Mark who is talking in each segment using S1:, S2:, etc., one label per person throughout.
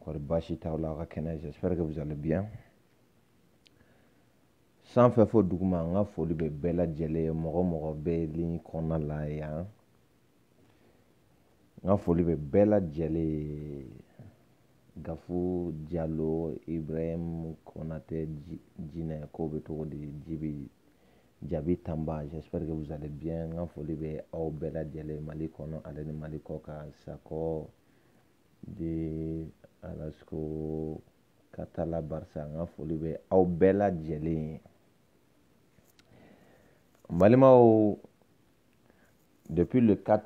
S1: kɔri baasi t'aw la aw ka kɛnɛ j'espère que vous allez bien sanfɛ fo duguma n ka foli bɛ bɛɛ lajɛlen ye mɔgɔ o mɔgɔ bɛ ligne kɔnɔna la yan n ka foli bɛ bɛɛ lajɛlen ye gafu jalo ibrahim konate jinɛ ko bɛ cogo di jibi jabi tanba j'espère que vous allez bien n ka foli bɛ aw bɛɛ lajɛlen mali kɔnɔ ani mali kɔkan sakɔ de Alasko Katala Barisa n ka foli bɛ aw bɛɛ lajɛlen ye n balimaw depuis le 4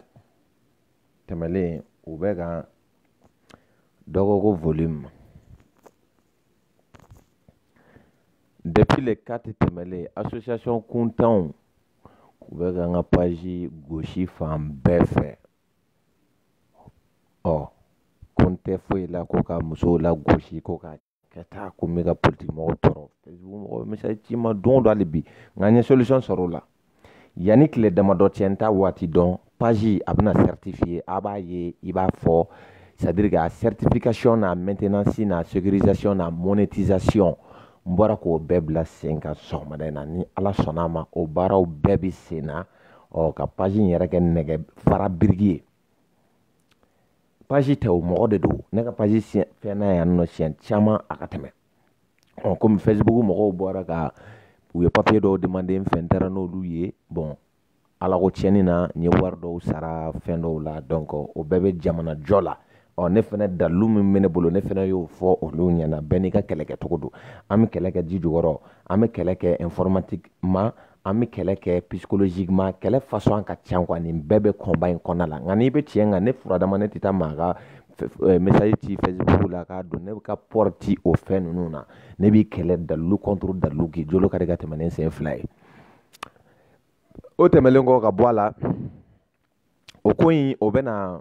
S1: tɛmɛlen u bɛ ka dɔ ko ko volume depuis le 4 tɛmɛlen association kuntanw u bɛ ka n ka page gosi fan bɛɛ fɛ ɔ ko n tɛ foyi la ko ka musow lagosi ko ka ka taa ko n bɛ ka politiki mɔgɔw tɔɔrɔ facebook mɔgɔw message ci n ma don o don hali bi nka n ye solution sɔrɔ o la yanni tile damadɔ cɛ n t'a waati dɔn page a bɛna certifier a b'a ye i b'a fɔ c'est à dire que a certification n'a maintenance n'a sécurisation n'a monétisation n bɔra k'o bɛɛ bila sen kan sɔgɔmada in na ni ala sɔnna a ma o baaraw bɛɛ bɛ sen na ɔ ka paji in yɛrɛ kɛ nɛgɛ fara biriki ye paji tɛ o mɔgɔ de don ne ka paji fɛnna yan nɔ siɲɛ caman a ka tɛmɛ ɔ komi fɛsibuku mɔgɔw bɔra ka u ye papiye dɔw demande n fɛ n taara n'olu ye bɔn ala ko tiɲɛni na n ye wari dɔw sara fɛn dɔw la donc o bɛɛ bɛ jamana jɔ la ɔ ne fana dalilu min bɛ ne bolo ne fana y'o fɔ olu ɲɛna bɛɛ n'i ka kɛlɛkɛcogo don an bɛ kɛlɛ kɛ ji jukɔrɔ an bɛ kɛlɛ kɛ informatique ma an bɛ kɛlɛ kɛ psychologiquement kɛlɛ façon ka ca quoi nin bɛɛ bɛ combat in kɔnɔna la nka n'i bɛ tiɲɛ kan ne furadama ne tɛ taa maa ka eh, message ci facebook la k'a dɔn ne bɛ ka port ci o fɛn ninnu na ne b'i kɛlɛ dalilu contre dalilu k'i jolo kari ka tɛmɛ ni sen fila ye o tɛmɛlen kɔ ka bɔ a la o ko in o bɛna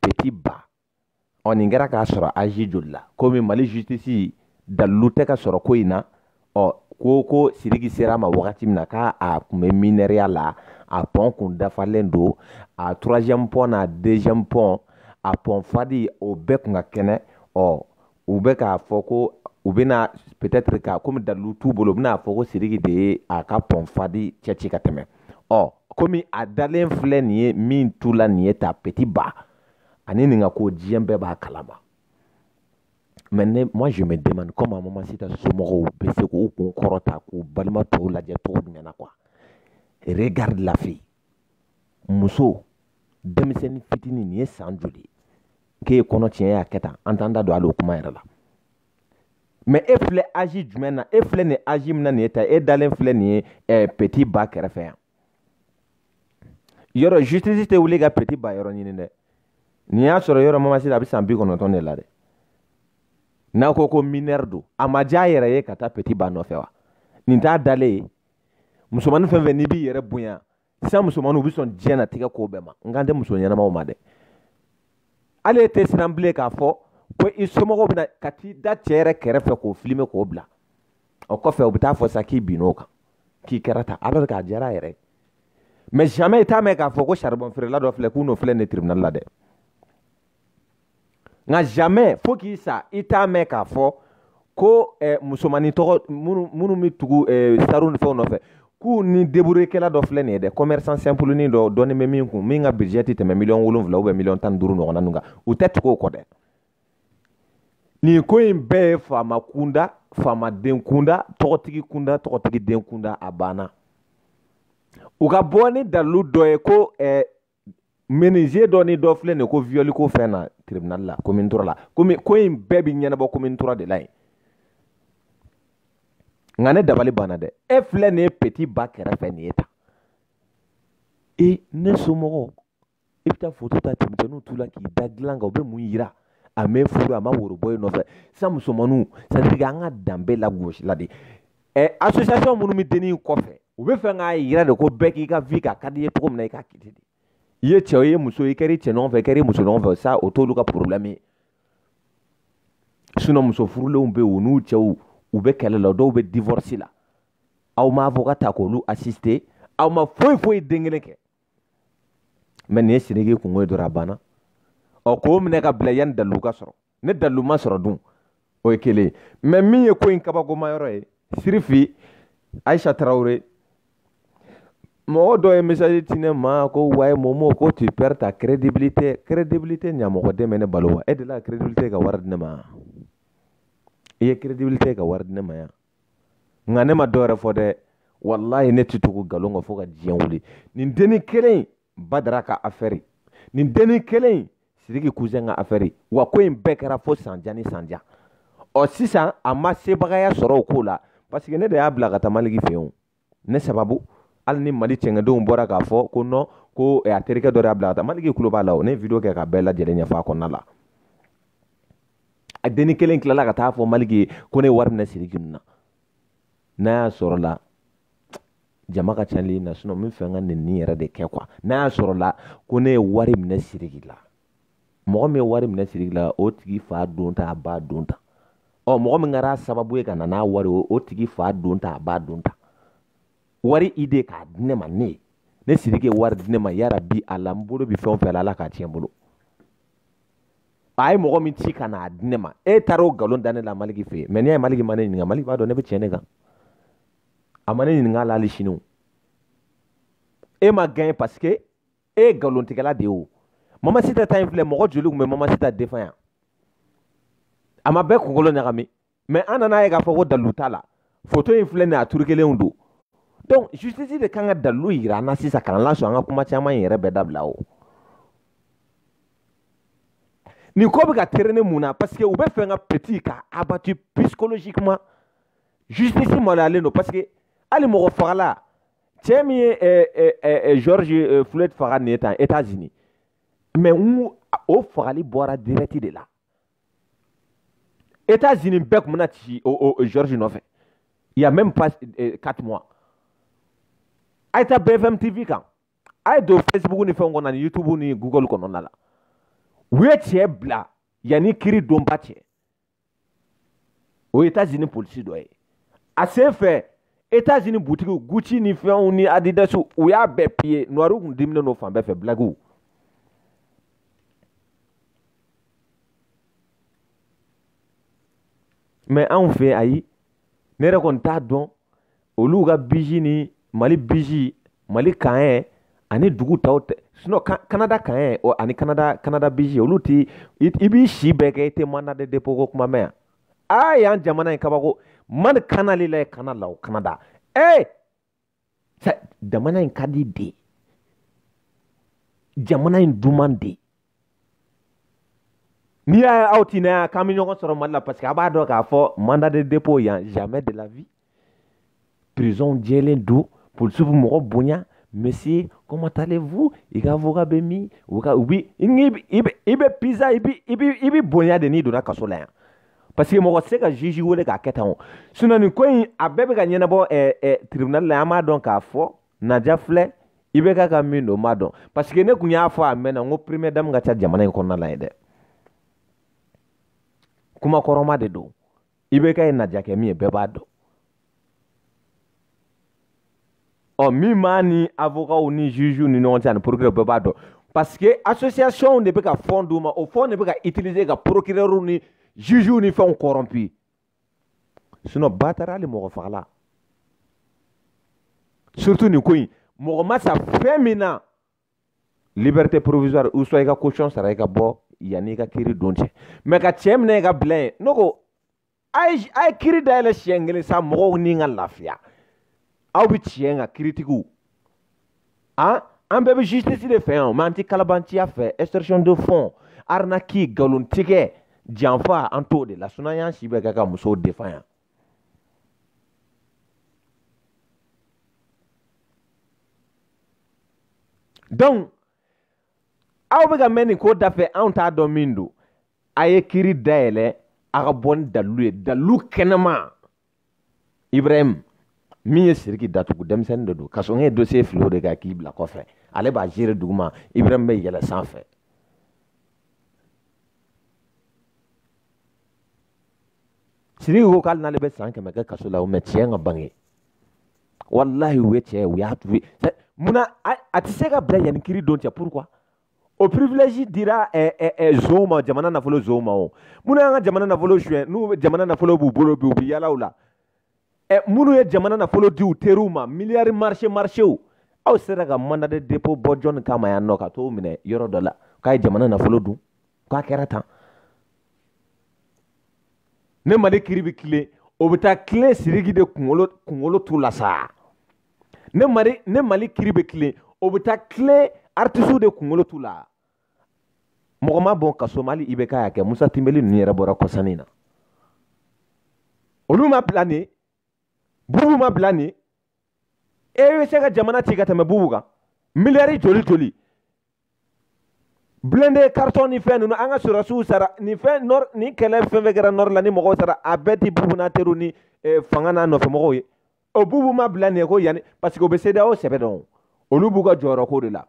S1: peti ba ɔ nin kɛra k'a sɔrɔ azi joli la komi mali jisitisi dalilu tɛ ka sɔrɔ ko in na ɔ ko ko siriki sera a ma wagati min na k'a a tun bɛ minɛriya la a pɔn kun dafalen don a troisième pɔn n'a deuxième pɔn a pɔnfadi o bɛɛ tun ka kɛnɛ ɔ u bɛ k'a fɔ ko u bɛna peut-être ka komi dalilu t'u bolo u bɛna a fɔ ko Sidiki de ye a ka pɔnfadi cɛci ka tɛmɛ ɔ komi a dalen filɛ nin ye min t'u la nin ye ta petit ba ani nin ka ko diɲɛ bɛɛ b'a kalama mais ne moi je me demande comment Mamasita somɔgɔw bɛ se k'u kun kɔrɔta k'u balima tɔw lajɛ cogo jumɛn na quoi regarde la fille muso denmisɛnnin fitinin nin ye san joli k'e ye kɔnɔ tiɲɛ y'a kɛ tan an t'an da don hali o kuma yɛrɛ la mais e filɛ âge jumɛn na e filɛ nin âge min na nin ye tan e dalen filɛ nin ye ɛɛ petit ba kɛrɛfɛ yan yɔrɔ justice tɛ wuli ka petit ba yɔrɔ ɲini dɛ nin y'a sɔrɔ yɔrɔ mamasi la a bɛ san bi kɔnɔntɔn de la dɛ n'a ko ko mineure don a ma diya a yɛrɛ ye ka taa petit ba nɔfɛ wa nin t'a dalen ye musomanin fɛn fɛn n'i b'i yɛrɛ bonya sisan musomaninw bɛ sɔn diɲɛnatigɛ ko bɛɛ ma n kan tɛ muso ɲɛnamaw ma dɛ hali e tɛ siran bilen k'a fɔ ko i somɔgɔw bɛna ka t'i da cɛ yɛrɛ kɛrɛfɛ k'o filime k'o bila o kɔfɛ u bɛ taa fɔ sa k'i binn'o kan k'i kɛra tan alors k'a diyara a yɛrɛ ye mais jamais i t'a mɛn k'a fɔ ko saribɔnfeerela dɔ filɛ k'u n'o filɛ nin tribunal la dɛ nka jamais fo k'i sa i t'a mɛn k'a fɔ ko eh, musomannin tɔgɔ minnu bɛ tugu eh, sariw ni fɛnw nɔfɛ k'u ni deburekɛla dɔ filɛ nin ye dɛ commerçant simple ni dɔ dɔɔni bɛ min kun min ka budget tɛ tɛmɛ miliyɔn wolonwula ou bien miliyɔn tan ni duuru ɲɔgɔnna ninnu kan u tɛ tugu o kɔ dɛ nin ko in bɛɛ ye faama kunda faamaden kunda tɔgɔtigi kunda tɔgɔtigiden kunda a banna u ka bɔ ni dalilu dɔ ye ko eh, menuisier dɔ ni dɔ filɛ nin ye ko viol ko fɛn na tribunal la commune trois la comme ko in bɛɛ bi ɲɛnabɔ commune trois de la yen nka ne dabali banna dɛ e filɛ nin ye petit ba kɛrɛfɛ nin ye tan e ne somɔgɔw i bɛ taa foto ta cɛmisɛnninw t'u la k'i da dilan kan o bɛ mun yira a m'e furu a ma woro bɔ e nɔfɛ sisan musomaninw c'est à dire an ka danbe lagosila de ɛ association minnu bɛ denni kɔfɛ u bɛ fɛ k'a yira de ko bɛɛ k'i ka vie kɛ a ka d'i ye cogo min na i k'a kɛ ten de i ye cɛ o i ye muso i kɛra i cɛ ɲɔgɔn fɛ i kɛra i muso ɲɔgɔn fɛ sa o t'olu ka problème ye sinon muso furulenw bɛ yen u n'u cɛw u bɛ kɛlɛ la dɔw bɛ divorce la aw ma avocat ta k'olu assister aw ma foyi foyi den kelen kɛ mais nin ye sidiki kunko ye dɔrɔn a banna ɔ k'o minɛ k'a bila yanni dalilu ka sɔrɔ ni dalilu ma sɔrɔ dun o ye kelen ye mais min ye ko in kabakoma yɔrɔ ye sirifi ayisa tarawele mɔgɔ dɔ ye message ci ne ma ko ouais momo ko tu perds ta crédibilité crédibilité ɲamɔgɔden bɛ ne balo wa e delila ka crédibilité ka wari di ne ma i ye crédibilité ka wari di ne ma yan nka ne ma dɔ yɛrɛ fɔ dɛ walayi ne tɛ tugu nkalon kan fo ka diɲɛ wuli nin denni kelen badara ka affaire nin denni kelen in sidiki cousin ka affaire wa ko in bɛɛ kɛra fo sanjan ni sanjan ɔ sisan a ma sebagaya sɔrɔ o ko la parce ne de y'a bila ka taa maliki fɛ yen ne sababu hali ni mali cɛngɛdenw bɔra k'a fɔ ko non ko eh, a terikɛ dɔ de y'a bila ka taa maliki kulo b'a la o ne ye video kɛ k'a bɛɛ lajɛlen ɲɛfɔ a kɔnɔna la a denni kelen tilala ka taa fɔ maliki ye ko ne ye wari minɛ sidiki ninnu na n'a y'a sɔrɔ la jama ka ca ni na sinɔn n b'a fɛ n ka nin nin yɛrɛ de kɛ quoi n'a y'a sɔrɔ la ko ne ye wari minɛ siriki la mɔgɔ min ye wari minɛ siriki la o tigi fa don ta a ba don ta ɔ mɔgɔ min kɛra sababu ye ka na n'a wari o tigi fa don ta a ba don ta wari i de k'a di ne ma ne ye ni siriki ye wari di ne ma yarabi ala n bolo bi fɛn o fɛn la ala k'a tiɲɛ n bolo a ye mɔgɔ min ci ka n'a di ne ma e taara o nkalon da ne la maliki fɛ yen mais n'i y'a ye maliki ma ne ɲininka maliki b'a dɔn ne bɛ tiɲɛ de kan a ma ne ɲininka a la hali sini o e ma gɛn parce que e ye nkalontigɛla de ye o mamasita ta in filɛ mɔgɔ joli tun bɛ mamasita defan yan a ma bɛɛ kunkolo ɲagami mais an nana ye k'a fɔ ko dalu t'a la foto in filɛ nin a turukelen don donc justice de kan ka dalu yira an na sisan k'an lasɔn an ka kuma caman in yɛrɛ bɛɛ dabila o nin ko bɛ ka terene mun na parce que u b'a fɛ ka petit ka abattu psychologiquement justice maloyalen don parce que hali mɔgɔ fagala cɛ min ye eh, eh, eh, george eh, floyd faga nin ye tan états unis mais n'o fagali bɔra direct de la États Unis bɛɛ tun bɛna ci o o George nɔfɛ il y a même pas euh, quatre mois a ye taa BFM TV kan a ye don Facebook ni fɛnw kɔnɔ ni YouTube ni Google kɔnɔna la u ye cɛ bila yanni kiri donba cɛ o ye États Unis polisi dɔ ye a sen fɛ etazini butigiw gucci ni fɛnw ni adidasiw u y'a bɛɛ piye nuwariw kun diminen don fan bɛɛ fɛ blagiw mɛ anw fɛ ayi ne yɛrɛ kɔni t'a dɔn olu ka biki ni mali biki mali kaye ani dugu tɔw ta sinɔn kanada kaye ani kanada kanada biki olu i b'i si bɛɛ kɛ i tɛ manda de depo ko kuma mɛn yan aa yan jamana ye kabako mani kana le la ye kanada o kanada ee jamana in ka di de jamana in duman de n'i y'a ye aw ti na yan k'an bɛ ɲɔgɔn sɔrɔ mali la parce que a b'a dɔn k'a fɔ mandat de dépôt yan jamais de la vie prison jɛlen don polisiw bɛ mɔgɔ bonya monsieur comment allez-vous i ka avocat bɛ min u ka u bi i bɛ i bɛ pizza i bi i bi i bi bonya de n'i donna kaso la yan parce que mɔgɔ tɛ se ka juge wele k'a kɛ tan o sinon nin ko in a bɛɛ bɛ ka ɲɛnabɔ ɛɛ ɛɛ tribunal la an b'a dɔn k'a fɔ naja filɛ i bɛ ka ka min don n b'a dɔn parce que ne tun y'a fɔ a mɛnna n ko première dame ka ca jamana in kɔnɔna la ye dɛ kuma kɔrɔma de don i bɛ k'a ye najakɛ min ye bɛɛ b'a dɔn ɔ min b'a ni avokaw ni jugew ni ɲɔgɔn cɛ ani procureur bɛɛ b'a dɔn parce que association de bɛ ka fɔn d'u ma o fɔn de bɛ ka utiliser ka procureur ni jugew ni fɛnw corrompu sinon ba taara hali mɔgɔfagala surtout nin ko in mɔgɔ ma sa fɛn min na liberté provisoire ou soit i ka caution sara i ka bɔ yanni i ka kiri don cɛ mɛ ka cɛ minɛ i k'a bila yen ne ko a ye a ye kiri dayɛlɛ siɲɛ kelen sa mɔgɔw ni ka lafiya aw bɛ tiɲɛ kan kiritigiw an an bɛɛ bɛ justice de fɛ yan mɛ an tɛ kalabanciya fɛ extorsion de fonds arnaque nkalontigɛ janfa an t'o de la sinɔn an y'an si bɛɛ kɛ ka musow defa yan donc aw bɛ ka mɛɛn nin ko dafɛ anw t'a dɔn min don a ye kiri dayɛlɛ a ka bɔ ni dalilu ye dalilu kɛnɛma ibrahim min ye siriki datugu denmisɛnnin de don kasoge ye dosiye fili o de kan k'i bila kɔfɛ ale b'a gérer duguma ibrahim bɛ yɛlɛ sanfɛ siriki ko k'ali n'ale bɛ san kɛmɛ kɛ kaso la au moins tiɲɛ ka bange walahi u ye tiɲɛ ye u y'a tubi munna a tɛ se ka bila yanni kiri don cɛ pourquoi o privilège dira eh, eh, eh, zonw ma jamana nafolo zonw ma o minnu y'an ka jamana nafolo suɲɛ ni jamana nafolo b'u bolo bi u bɛ yaala u la ɛ minnu ye jamana nafolo di u teriw ma miliyari marise marisew aw sera ka mandat de dépôt bɔ jɔnni kama yan nɔ ka t'o minɛ yɔrɔ dɔ la k'a ye jamana nafolo dun k'a kɛra tan ni mali kiri bɛ tilen o bɛ taa tilen siriki de kunkolo kunkolo t'u la sa ni mali ni mali kiri bɛ tilen o bɛ taa tilen artisiw de kunkolo t'u la mɔgɔ ma bɔ kaso mali i bɛ k'a y'a kɛ musa tinbeli ninnu yɛrɛ bɔra kɔsa nin na olu ma bila nin bubu ma bila nin e bɛ se ka jamana ci ka tɛmɛ bubu kan miliyari joli joli blindé carton ni fɛn ninnu an ka sɔrɔsiw sara nin fɛn nɔr nin kɛlɛ fɛn fɛn kɛra nɔri la ni mɔgɔw sara a bɛɛ tɛ bubu n'a teriw ni eh, fanga n'a nɔfɛmɔgɔw ye o bubu ma bila nin ye ko yanni parce que o bɛ CEDEAO sɛbɛn dɔn olu b'u ka jɔyɔrɔ ko de la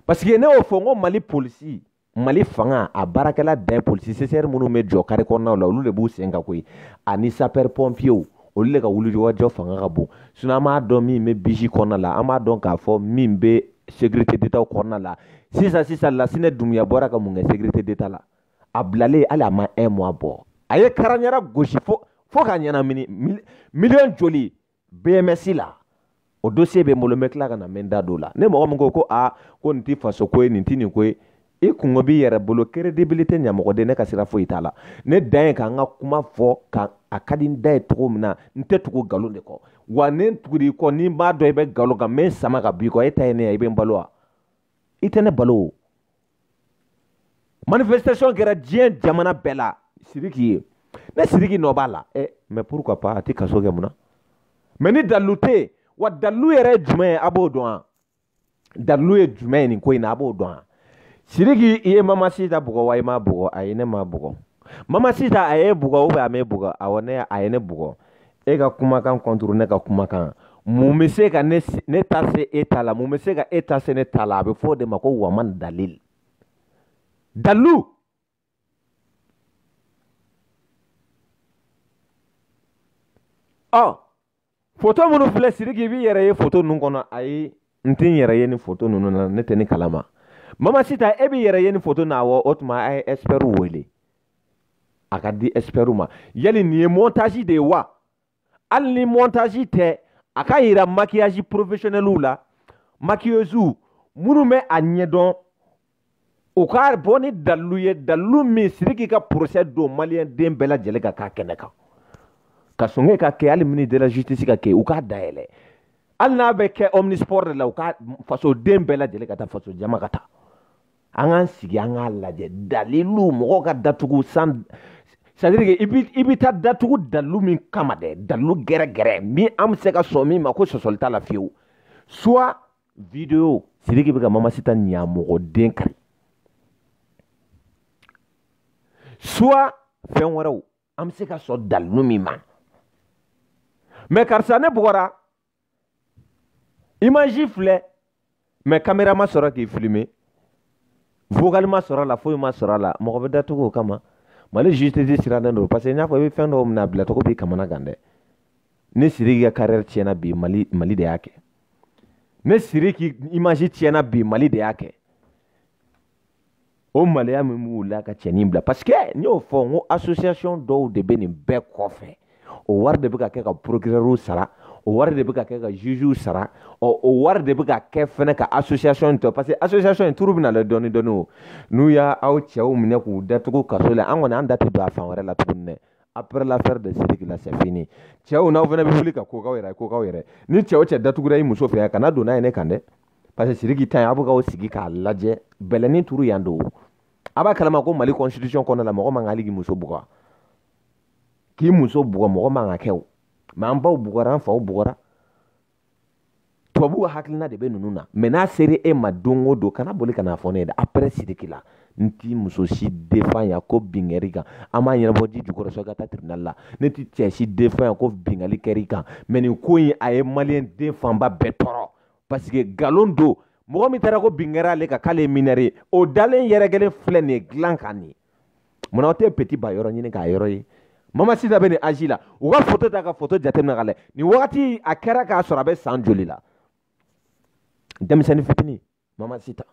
S1: parce que ne y'o fɔ n ko mali polisi mali fanga a baarakɛla bɛɛ polisi CCR minnu bɛ jɔ kare kɔnɔnaw la olu de b'u sen kan koyi ani sapɛri pɔnpiyew olu de ka wulikajɔ fanga ka bon sinɔn an b'a dɔn min bɛ bisi kɔnɔna la an b'a dɔn k'a fɔ min bɛ sécurité d'état kɔnɔna la sisan sisan lasinɛ dumuya bɔra ka mun kɛ sécurité d'état la a bilalen hali a ma un mois bɔ a ye karanyara gosi fo fo ka ɲɛnamini miliyɔn joli bms la o dossier bɛ n bolo n bɛ tila ka na n bɛ n da don o la ni mɔgɔ min ko ko a ah, ko nin tɛ faso ko ye nin tɛ nin ko ye i kunko b'i yɛrɛ bolo crédibilité ɲamɔgɔden ne ka sira foyi t'a la ne dan ye ka n ka kuma fɔ ka a ka di n da ye cogo min na n tɛ tugu nkalon de kɔ wa ni n tugura i kɔ ni n b'a dɔn i bɛ nkalon kan n bɛ n sama ka bɔ i kɔ e ta ye ne ye i bɛ n balo wa i tɛ ne balo o manifestation kɛra diɲɛ jamana bɛɛ la siriki ye ni siriki nɔ b'a la ɛ mɛ pourquoi pas a tɛ kaso kɛ mun na mɛ ni dalilu tɛ yen wa dalilu yɛrɛ ye jumɛn ye a b'o dɔn wa dalilu ye jumɛn ye nin ko in na a b'o dɔn wa siriki i ye mama sita bugɔ wa i m'a bugɔ ayi ne m'a bugɔ mama sita a y'e bugɔ ou bien a m'e bugɔ awɔ ne a ye ne bugɔ e ka kumakan kɔntoro ne ka kumakan mun bɛ se ka ne ne ta se e ta la mun bɛ se ka e ta se ne ta la a bɛ fɔ o de ma ko waman dalil dalu ɔ foto minnu filɛ siriki i b'i yɛrɛ ye foto ninnu kɔnɔ ayi n tɛ n yɛrɛ ye nin foto ninnu na ne tɛ nin kalama mama sita e b'i yɛrɛ ye nin foto na awɔ o tuma a ye ɛsipɛriw wele a k'a di ɛsipɛriw ma yali nin ye mɔntazi de ye wa hali ni mɔntazi tɛ a k'a yira makiyazi porofesiyonɛliw la makiyeziw minnu bɛ a ɲɛdɔn u ka bɔ ni dalilu ye dalilu min siriki ka porosɛ don maliyɛn den bɛɛ lajɛlen ka k'a kɛnɛ kan ka songe ka kɛ hali mini de la justice ka kɛ u k'a dayɛlɛ hali n'a bɛ kɛ omnisport de la u ka fasoden bɛɛ lajɛlen ka taa faso jama ka taa an k'an sigi an k'a lajɛ dalilu mɔgɔw ka datugu san c'est-à-dire que i bɛ taa datugu dalilu min kama dɛ dalilu gɛrɛgɛrɛ min an bɛ se ka sɔn min ma ko sɔsɔli t'a la fiyewu soit video siriki bɛ ka mamasita ɲamɔgɔden kari soit fɛn wɛrɛw an bɛ se ka sɔn dalilu min ma mɛ karisa ne bugɔra imaji filɛ mɛ kamera ma sɔrɔ k'i filime vocal ma sɔrɔ a la foyi ma sɔrɔ a la mɔgɔ bɛ datugu o kama mali justice sirannen don parce que n y'a fɔ i bɛ fɛn dɔw minɛ a bilacogo b'i kamanagan dɛ ne siriki ka carrière tiɲɛna bi mali mali de y'a kɛ ne siriki image tiɲɛna bi mali de y'a kɛ o maloya min b'u la ka cɛnin bila parce que n y'o fɔ n ko association dɔw de bɛ nin bɛɛ kɔfɛ o wari de bɛ ka kɛ ka procureur sara o wari de bɛ ka kɛ ka jugew sara ɔ o wari de bɛ ka kɛ fɛnɛ ka association tɔ parce que association in turu bɛna lɛ dɔɔni dɔɔni o n'u ye aw cɛw minɛ k'u datugu kaso la an kɔni an da tɛ don a fan wɛrɛ la tuguni dɛ après l'affaire de Sidiki la c'est fini cɛw n'aw fɛnɛ bɛ wuli ka ko k'aw yɛrɛ ko k'aw yɛrɛ ni cɛw cɛ datugura i muso fɛ yan kana don n'a ye ne kan dɛ parce que siriki ta ye aw bɛ k'aw sigi k'a lajɛ bɛlɛni turu yan don a b'a kalama ko mali constitution kɔnɔna la mɔgɔ man kan hali k'i muso bugɔ k'i muso bugɔ mɔgɔ man ka kɛ o mɛ an baw bugɔra an faw bugɔra tubabuw hakilina de bɛ ninnu na mɛ n'a sera e ma don o don kana boli ka n'a fɔ ne ye dɛ après siriki la n ti muso si defan ya ko bin kɛr'i kan an b'a ɲɛnabɔ ji jukɔrɔ sɔ ka taa tribunal la ne ti cɛ si defan ya ko binkanni kɛr'i kan mɛ nin ko in a ye maliyɛn den fanba bɛɛ tɔɔrɔ parce que nkalon don mɔgɔ min taara ko bin kɛra ale kan k'ale ye mineure ye o dalen yɛrɛ kelen filɛ nin ye dilan kan nin munna aw tɛ peti ba yɔrɔ ɲini k'a yɔrɔ ye mamasita bɛ nin âge la u ka foto ta ka foto jateminɛ k'a lajɛ nin wagati a kɛra k'a sɔrɔ a bɛ san joli la denmisɛnnin fitini mamasita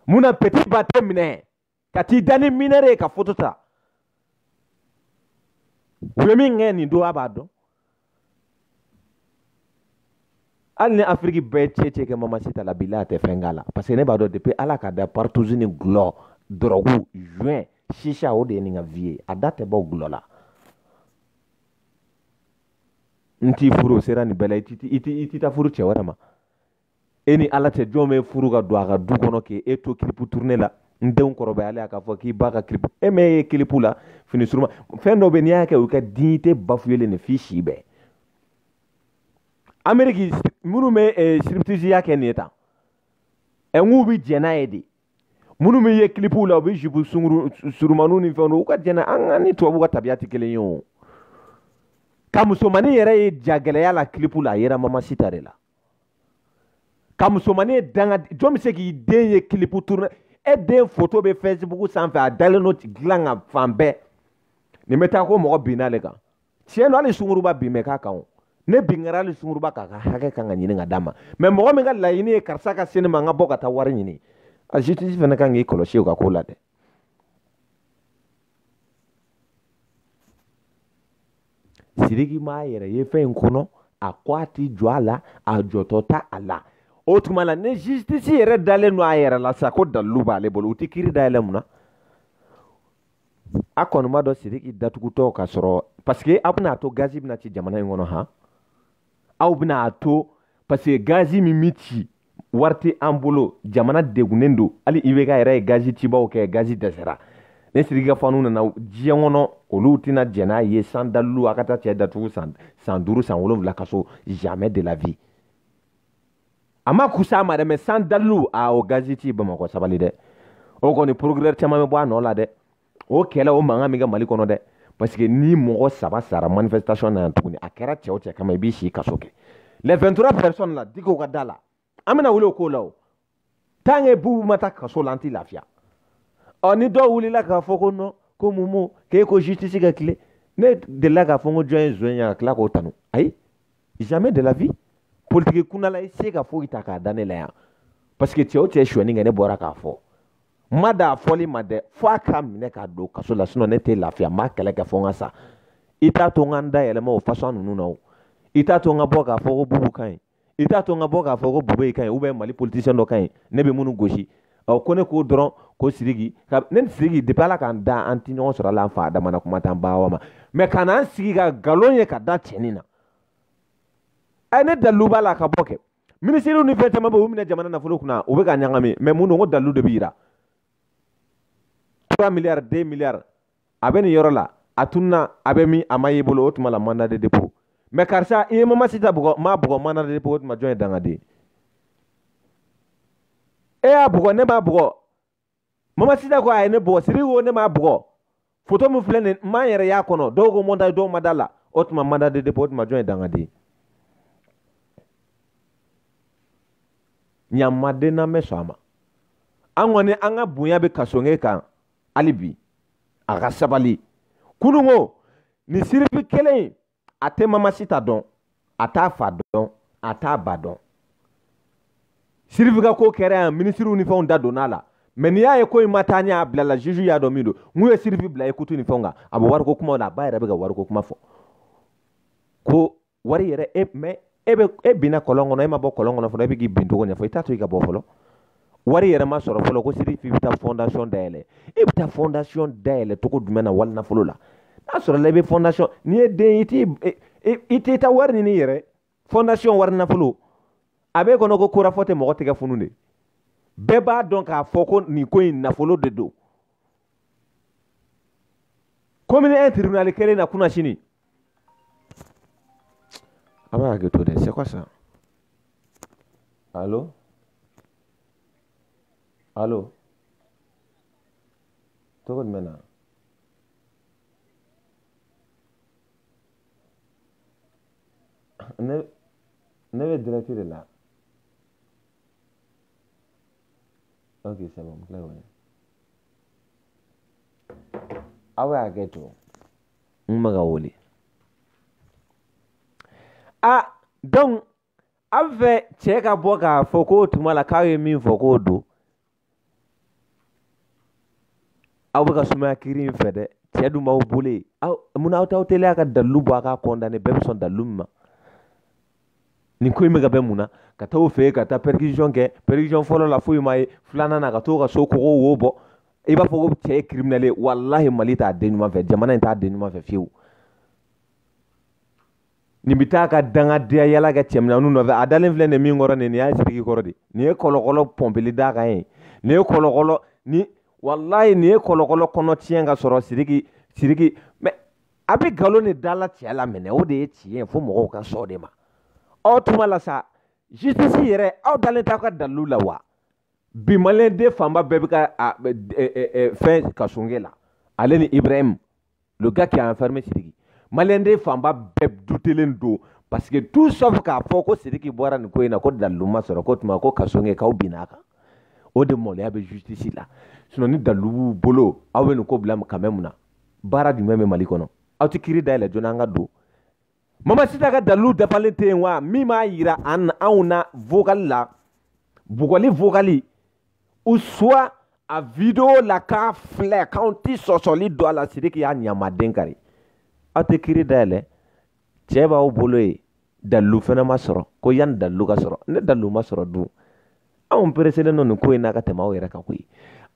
S1: mun na peti ba tɛ minɛ ka t'i da ni mineure ye ka foto ta u ye min kɛ nin don a b'a dɔn hali ni afiriki bɛɛ cɛ cɛ kɛ mamasita la bi la a tɛ fɛn k'a la parce que ne b'a dɔn depuis ala k'a da partouze ni gulɔ dɔrɔgu joint chicha o de ye nin ka vie ye a da tɛ bɔ gulɔ la n t'i furu o sera nin bɛɛ la i tɛ taa furu cɛ wɛrɛ ma e ni ala tɛ jɔn bɛ furu ka don a ka du kɔnɔ k'e to kilipu turune la n denw kɔrɔbayalen a k'a fɔ k'i ba ka kilipu e bɛ ye kilipu la fini suruma fɛn dɔ bɛ n'i y'a kɛ o ka dignité bafuyelen de f'i si bɛɛ ameriki minnu bɛ eh, siriptisiya kɛ nin ye tan ɛ n k'u bɛ jɛn n'a ye dɛ minnu bɛ ye kilipuw la u bɛ jupu sunguru surumaniw ni fɛnw don u ka jɛn an ka ni tubabuw ka tabiya tɛ kelen ye o ka musomanin yɛrɛ ye jagɛlɛya la kilipu la a yera mamasita de la ka musomanin danga jɔn bɛ se k'i den ye kilipu tourné e den foto bɛ facebook sanfɛ a dalen don dilan kan fan bɛɛ nin bɛ taa ko mɔgɔ binna ne kan tiɲɛ don hali sunguruba bin bɛ k'a kan o ni bin kɛra hali sunguruba kan a ka hakɛ kan ka ɲini ka d'a ma mɛ mɔgɔ min ka laɲini ye karisa ka se ne ma n ka bɔ ka taa wari ɲini a justice fana kan k'i kɔlɔsi o ka ko la dɛ siriki m'a yɛrɛ ye fɛn in kɔnɔ a ko a ti jɔ a la a jɔtɔ t'a la o tuma la ni justice yɛrɛ dalen don a yɛrɛ la sa ko dalilu b'ale bolo u ti kiri dayɛlɛ mun na a kɔni b'a dɔn siriki datugutɔ ka sɔrɔ parce que a bɛna to gazi bɛna ci jamana in kɔnɔ han aw bɛna a to parce que gazi min bɛ ci wari tɛ an bolo jamana degunnen don hali ibk yɛrɛ ye gazi cibaw kɛ gazi dɛsɛra ni siriki ka fanw nana diɲɛ kɔnɔ olu tɛna jɛn n'a ye sans dalilu a ka taa cɛ datugu san san duuru san wolonwula kaso jamais de la vie a ma kusa a ma dɛ mɛ sans dalilu aw gazi ci bamakɔ sabali dɛ o kɔni procureur caman bɛ bɔ a nɔ la dɛ o kɛlɛ o mankan min kɛ mali kɔnɔ dɛ parce que ni mɔgɔ saba sara manifestation na yan tuguni a kɛra cɛ o cɛ kama i b'i si kaso kɛ les 23 personnes la digiw ka da la an bɛna wuli o ko la o tant que bubu ma taa kaso la an tɛ lafiya ɔ ni dɔw wulila k'a fɔ ko non ko bubu k'e ko justice ka tilen ne delila k'a fɔ n ko jɔn ye zon ye ka tila k'o tanu ayi jamais de la vie politiki kundala i se ka foyi ta k'a da ne la yan parce que cɛ o cɛ suɲɛni kɛ ne bɔra k'a fɔ ma dan a fɔli ma dɛ fo a k'a minɛ k'a don kaso la sinon ne tɛ lafiya n b'a kɛlɛ kɛ fo n ka sa i t'a to n ka n da yɛlɛma o fasɔn ninnu na o i t'a to n ka bɔ k'a fɔ ko bubu ka ɲi i t'a to n ka bɔ k'a fɔ ko bubɛyi ka ɲi ou bien mali politisiyɛn dɔ ka ɲi ne bɛ minnu gosi ɔ ko ne k'o dɔrɔn ko siriki ka ne ni siriki depuis ala k'an da an tɛ ɲɔgɔn sɔrɔ ala an fa adama na kuma t'an ba awa ma mais ka n'an sigi ka nkalon tigɛ ka da cɛnin na ɛ ne dalilu b'a la ka bɔ kɛ minisiriw ni fɛn caman bɛ u minɛ jamana nafolo kunna u bɛ ka ɲagami mais mun don ko dalilu de bɛ yira 3 miliyari 2 miliyari a bɛ nin yɔrɔ la a tununa a bɛ min a ma y'i bolo o tuma la mandat de dépôt mais karisa i ye mamasita bugɔ m'a bugɔ mandat de dépôt o tuma jɔn ye dangaden e y'a bugɔ ne m'a bugɔ mamasita ko a ye ne bugɔ siriki ko ne m'a bugɔ foto min filɛ nin m'an yɛrɛ y'a kɔnɔ dɔw ko montage dɔw ma da la o tuma mandat de dépôt o tuma jɔn ye dangaden ɲamaden n'an bɛ sɔn a ma an kɔni an ka bonya bɛ kasoge kan hali bi a ka sabali kunun ko nin siriki kelen in a tɛ mamasita dɔn a t'a fa dɔn a t'a ba dɔn siriki ka ko kɛra yan minisiriw ni fɛnw da donna a la mais n'i y'a ye ko in ma taa ɲɛ a bilala juge y'a dɔn min don n'u ye siriki bila ye kutu ni fɛnw kan a bɛ wariko kumaw la a ba yɛrɛ bɛ ka wariko kuma fɔ ko wari yɛrɛ e mɛ e bɛ e binna kɔlɔn kɔnɔ e ma bɔ kɔlɔn kɔnɔ fɔlɔ e bɛ k'i bin cogo ɲɛfɔ i t'a to i ka bɔ fɔlɔ wari yɛrɛ ma sɔrɔ fɔlɔ ko siriki bɛ taa fondation dayɛlɛ e bɛ taa fondation dayɛlɛ cogo jumɛn na wari nafolo la n'a sɔrɔla i bɛ fondation n'i ye den i t'i i t'i ta wari ɲini yɛrɛ fondation wari nafolo a b'e kɔnɔ ko korafɔ tɛ mɔgɔ tɛgɛ funu de bɛɛ b'a dɔn k'a fɔ ko nin ko in nafolo de don komini un tribunali kelen na kunasini a b'a hakɛto dɛ c'est quoi ça allo allo tɔgɔ jumɛn na ne ne bɛ direct de la okay sɛ bɛn kila wɛrɛ aw bɛ hakɛ to n bɛ ka wele a dɔn aw fɛ cɛ ka bɔ k'a fɔ k'o tuma la k'aw ye min fɔ k'o don aw bɛ ka sumaya kiri in fɛ dɛ cɛ dun b'aw bolo yen aw munna aw t'aw teliya ka dalilu bɔ a ka condamner bɛɛ bɛ sɔn dalilu min ma nin ko in bɛ ka bɛn mun na ka taa o fɛ ka taa perquisition kɛ perquisition fɔlɔ la foyi ma ye filanan na ka taa a ka so kogo wo bɔ i b'a fɔ ko cɛ ye kiriminɛli ye walahi mali t'a den ɲuman fɛ jamana in t'a den ɲuman fɛ fiyewu nin bɛ taa ka dangadenya yala kɛ cɛmisɛnninw nɔfɛ a dalen filɛ nin min kɔrɔ nin nin y'a siriki kɔrɔ de nin ye kɔlɔkɔlɔ pɔnpeli d'a kan ye nin ye kɔlɔkɔlɔ ni walayi nin ye kɔlɔkɔlɔ kɔnɔ tiɲɛ ka sɔrɔ siriki siriki mɛ a bɛ nkalon de da la cɛ la minɛ o de ye tiɲɛ ye fo mɔgɔw ka sɔn de ma o tuma la sa justice yɛrɛ aw dalen t'aw ka dalilu la wa bi maliyɛn den fanba bɛɛ bɛ ka a fɛn kassogué la ale ni ibrahim le gars qui a enfermé sidiki maliyɛn den fanba bɛɛ dutelen don parce que tout sauf k'a fɔ ko sidiki bɔra nin ko in na ko dalilu ma sɔrɔ ko tuma ko kassogué k'aw binna a kan o de maloya bɛ justice la sinon ni dalilu b'u bolo aw bɛ nin ko bila ka mɛn mun na baara jumɛn bɛ mali kɔnɔ aw tɛ kiri dayɛlɛ joona an ka don mamasita ka dalilu dafalen tɛ yen wa min b'a yira an anw na vokali la bugɔli vokali ou soit a video la k'a filɛ k'anw ti sɔsɔli don a la sidiki y'a ɲamaden kari aw tɛ kiri dayɛlɛ cɛ b'aw bolo yen dalilu fana ma sɔrɔ ko yanni dalilu ka sɔrɔ ni dalilu ma sɔrɔ dun anw pereselen don nin ko in na ka tɛmɛ aw yɛrɛ kan koyi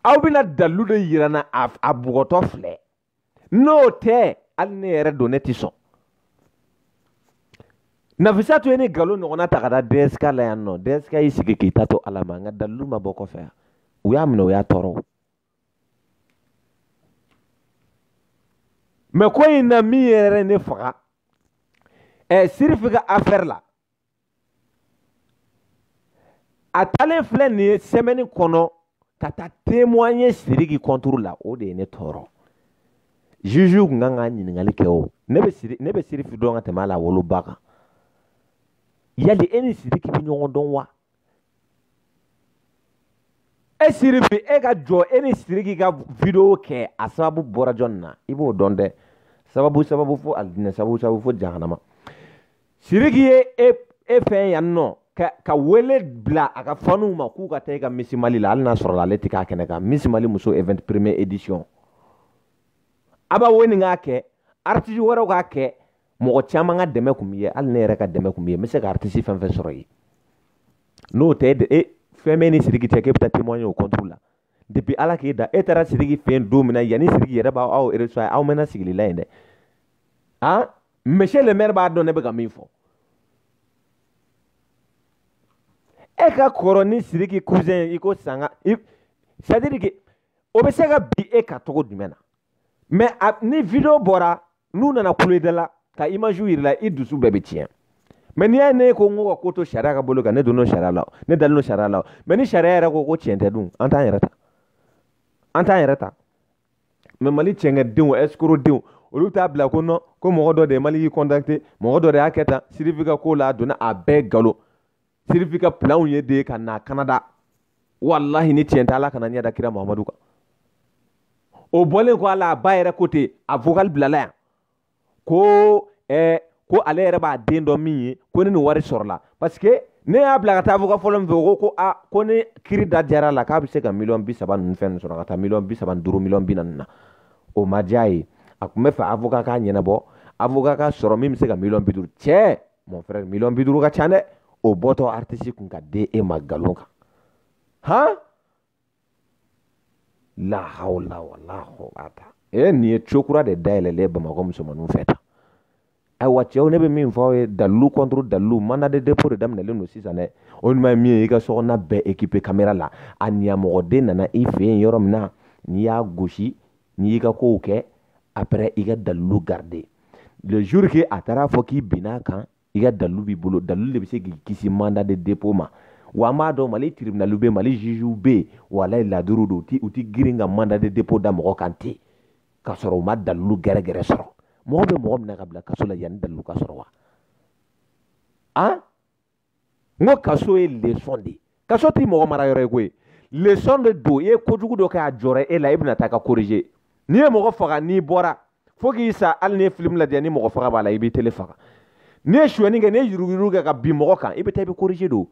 S1: aw bɛna dalilu de yira an na a bugɔtɔ filɛ n'o tɛ hali ne yɛrɛ don ne tɛ sɔn nafisatu ye nin nkalon ɲɔgɔnna ta ka da dɛsika la yan nɔ dɛsika y'i sigi k'i ta to ala ma nka dalilu ma bɔ kɔfɛ yan u y'a minɛ u y'a tɔɔrɔ mɛ ko in na min yɛrɛ ne faga ɛ sirifi ka afɛri la a taalen filɛ nin sɛmɛni kɔnɔ ka taa témoigner siriki kɔnturu la o de ye ne tɔɔrɔ juge kun kan ka ɲininkali kɛ o ne bɛ siri ne bɛ sirifi dɔn ka tɛmɛ a la woloba kan yali e ni siriki bɛ ɲɔgɔn dɔn wa e sirifi e ka jɔ e ni siriki ka video kɛ a sababu bɔra jɔni na i b'o dɔn dɛ sababu sababu fo alijinɛ sababu sababu fo jahanama siriki ye e e fɛn yan nɔ ka ka wele bila a ka fanuw ma k'u ka taa i ka miss mali la hali n'a sɔrɔla ale tɛ k'a kɛnɛ kan miss mali muso event premier édition a b'a wele k'a kɛ aritisi wɛrɛw k'a kɛ mɔgɔ caman ka dɛmɛ kun b'i ye hali ne yɛrɛ ka dɛmɛ kun b'i ye n bɛ se ka aritisi fɛn fɛn sɔrɔ yen n'o tɛ e fɛn bɛ ni siriki cɛ k'e bɛ taa témoigner o contre la depuis ala k'e da e taara siriki fɛ yen don min na yanni siriki yɛrɛ b'a aw recevoir aw mɛnna sigili la yen dɛ a monsieur le maire b'a dɔn ne bɛ ka min fɔ e ka kɔrɔ ni siriki cousin i ko sanga c'est à dire que o bɛ se ka bin e kan cogo jumɛn na mɛ ni video bɔra n'u nana kulo i da la ka imaziw yir'i la i dusu bɛɛ bɛ tiɲɛ mɛ n'i y'a ye ne ko n ko ka ko to sariya ka bolo kan ne donn'o sariya la ne dalen don sariya la mɛ ni sariya yɛrɛ ko ko tiɲɛ tɛ dun an t'an yɛrɛ ta an t'an yɛrɛ ta mɛ mali cɛnkɛdenw ɛsikorodenw olu t'a bila kɔnɔ ko mɔgɔ dɔ de ye mali y'i kɔntakite mɔgɔ dɔ de y'a kɛ tan siriki ka ko la a donna a bɛɛ galon siriki ka pilanw ye de ka na kanada walahi ni tiɲɛ tɛ ala kana n ɲɛ da kira mamadu kan o bɔlen kɔ a la a ba yɛrɛ ko ten a vocal bilala yan ko eh, ko ale yɛrɛ b'a den dɔn min ye ko ni nin wari sɔrɔla parce que ne y'a bila ka taa vocal fɔlɔ min fɛ o ko ko a ko ni kiri diyara a la k'a bɛ se ka miliyɔn bi saba ninnu fɛn ninnu sɔrɔ ka taa miliyɔn bi saba ni duuru miliyɔn bi naani na o ma diya a ye a tun bɛ fɛ avocat k'a ɲɛnabɔ avocat ka sɔrɔ min bɛ se ka miliyɔn bi duuru cɛ mon frère million bi duuru ka ca dɛ o bɔtɔ artiste kun k'a di e ma galon kan han la hawla wala quwwata e nin ye co kura de dayɛlɛlen bamakɔ musomaninw fɛ tan ayiwa cɛw ne bɛ min fɔ aw ye dalilu contre dalilu mandat de dépôt de daminɛlen don sisan dɛ o ɲuman ye min ye i ka sokɔnɔna bɛɛ équipe caméra la a ɲamɔgɔden nana i fɛ yen yɔrɔ min na n'i y'a gosi n'i y'i ka kow kɛ après i ka dalilu garde le jour que a taara a fɔ k'i binna a kan i ka dalilu b'i bolo dalilu de bɛ se k'i kisi mandat de dépôt ma wa an b'a dɔn mali tribunaliw bɛ mali jugew bɛ yen walayi ladiri don u tɛ girin ka mandat de dépôt da mɔgɔ kan ten k'a sɔrɔ u ma dalilu gɛrɛgɛrɛ sɔrɔ mɔgɔ bɛ mɔgɔ minɛ k'a bila kaso la yanni dalilu ka sɔrɔ wa an n ko kaso ye leçon de ye kaso tɛ mɔgɔ mara yɔrɔ ye koyi leçon de don i ye kojugu dɔ kɛ a jɔra e la i bɛna taa ka corriger n'i ye mɔgɔ faga n'i bɔra fo k'i sa hali n'i ye film lajɛ ni mɔgɔ faga b'a la i b'i tele faga n'i ye suyɛni kɛ n'i ye yuruguyurugu kɛ ka bin mɔgɔ kan i bɛ taa i bɛ corriger don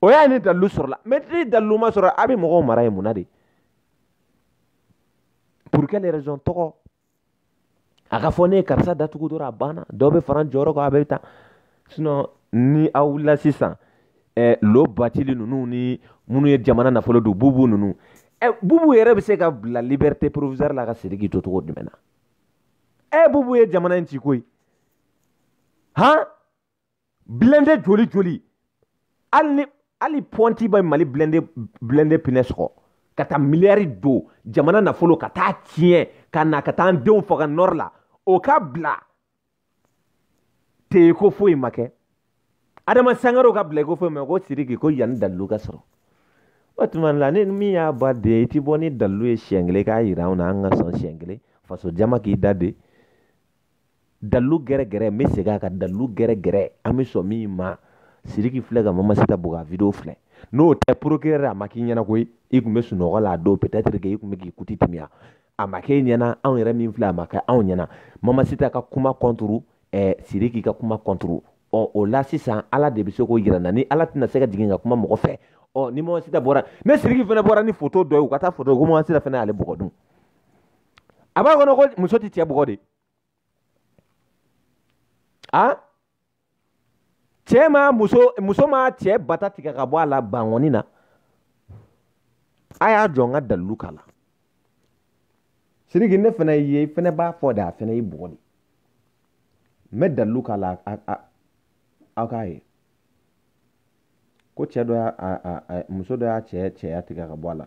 S1: o ye ni dalilu sɔrɔla mɛ ni dalilu ma sɔrɔ aw bɛ mɔgɔw mara yen mun na de pour quelle raison tɔgɔ a ka fɔ ne ye karisa datugu dɔrɔn a banna dɔ bɛ fara n jɔyɔrɔ kan aw bɛ taa sinɔgɔ ni aw wulila sisan ɛɛ lo batili ninnu ni minnu ye jamana nafolo dun bubu ninnu ɛ bubu yɛrɛ bɛ se ka bila liberté provisoire la ka siriki to cogo jumɛn na ɛ bubu ye jamana in ci koyi han blende joli joli hali ni hali pɔnti bɛ mali blende blende pinɛ sɔgɔ ka taa miliyari dun jamana nafolo ka taa tiɲɛ ka na ka taa an denw faga nɔri la o ka bila ten i ko foyi ma kɛ adama sangare o ka bila i ko foyi ma kɛ siriki ko yanni dalilu ka sɔrɔ o tuma la ni min y'a ba den i ti bɔ ni dalilu ye siɲɛ kelen k'a yira anw na an ka sɔn siɲɛ kelen faso jama k'i da de dalilu gɛrɛ gɛrɛ n bɛ segin a kan dalilu gɛrɛ gɛrɛ an bɛ sɔn min ma siriki filɛ ka mamasita bugɔ a video filɛ n'o tɛ procureur a ma k'i ɲɛna koyi i tun bɛ sunɔgɔ la a don peut être que i tun bɛ k'i kuti timiya a ma k'e ɲɛna anw yɛrɛ min filɛ a ma kɛ anw ɲɛna mamasita ka kuma kɔnturu eh, siriki ka kuma kɔnturu ɔ o la sisan ala de bɛ se k'o yira an na ni ala tɛna se ka jigin ka kuma mɔgɔ fɛ ɔ ni mamasita bɔra ni siriki fana bɔra ni foto dɔ ye u ka taa foto ko mamasita fana y'ale bugɔ dun a b'a kɔnɔ ko muso tɛ cɛ bugɔ de a cɛ ma muso muso ma cɛ bata tigɛ ka bɔ a la bankɔni na a y'a jɔ n ka dalilu k'a la siriki ne fana e fana b'a fɔ de a fana y'i bugɔ de n bɛ dalilu k'a la aw k'a ye ko cɛ dɔ y'a muso dɔ y'a cɛ cɛya tigɛ ka bɔ a la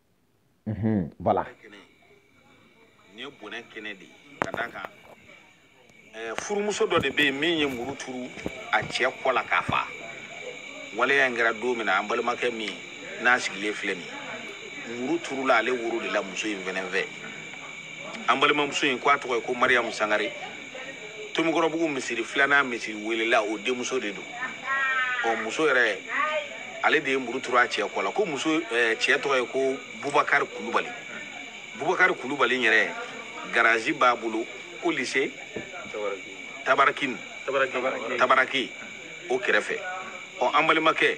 S1: Mhm, voilà. kɛnɛ in ye bonɛ kɛnɛ de ye ka d'a kan ɛɛ furumuso dɔ de bɛ yen min ye muru turu a cɛ kɔ la k'a fa waleya in kɛra don min na an balimakɛ min n'a sigilen filɛ nin ye muru turula ale woro de la muso in fɛnɛ fɛ an balimamuso in ko a tɔgɔ ye ko mariyamu sangare tomikɔrɔbugu misiri filanan misiri welela o denmuso de don ɔ muso yɛrɛ ale de ye muru turu a cɛ kɔ la ko muso eh, cɛ tɔgɔ ye ko bubakari kulubali bubakari kulubali yɛrɛ garazi b'a bolo ko lise tabarakini tabaraki o kɛrɛfɛ ɔ an balimakɛ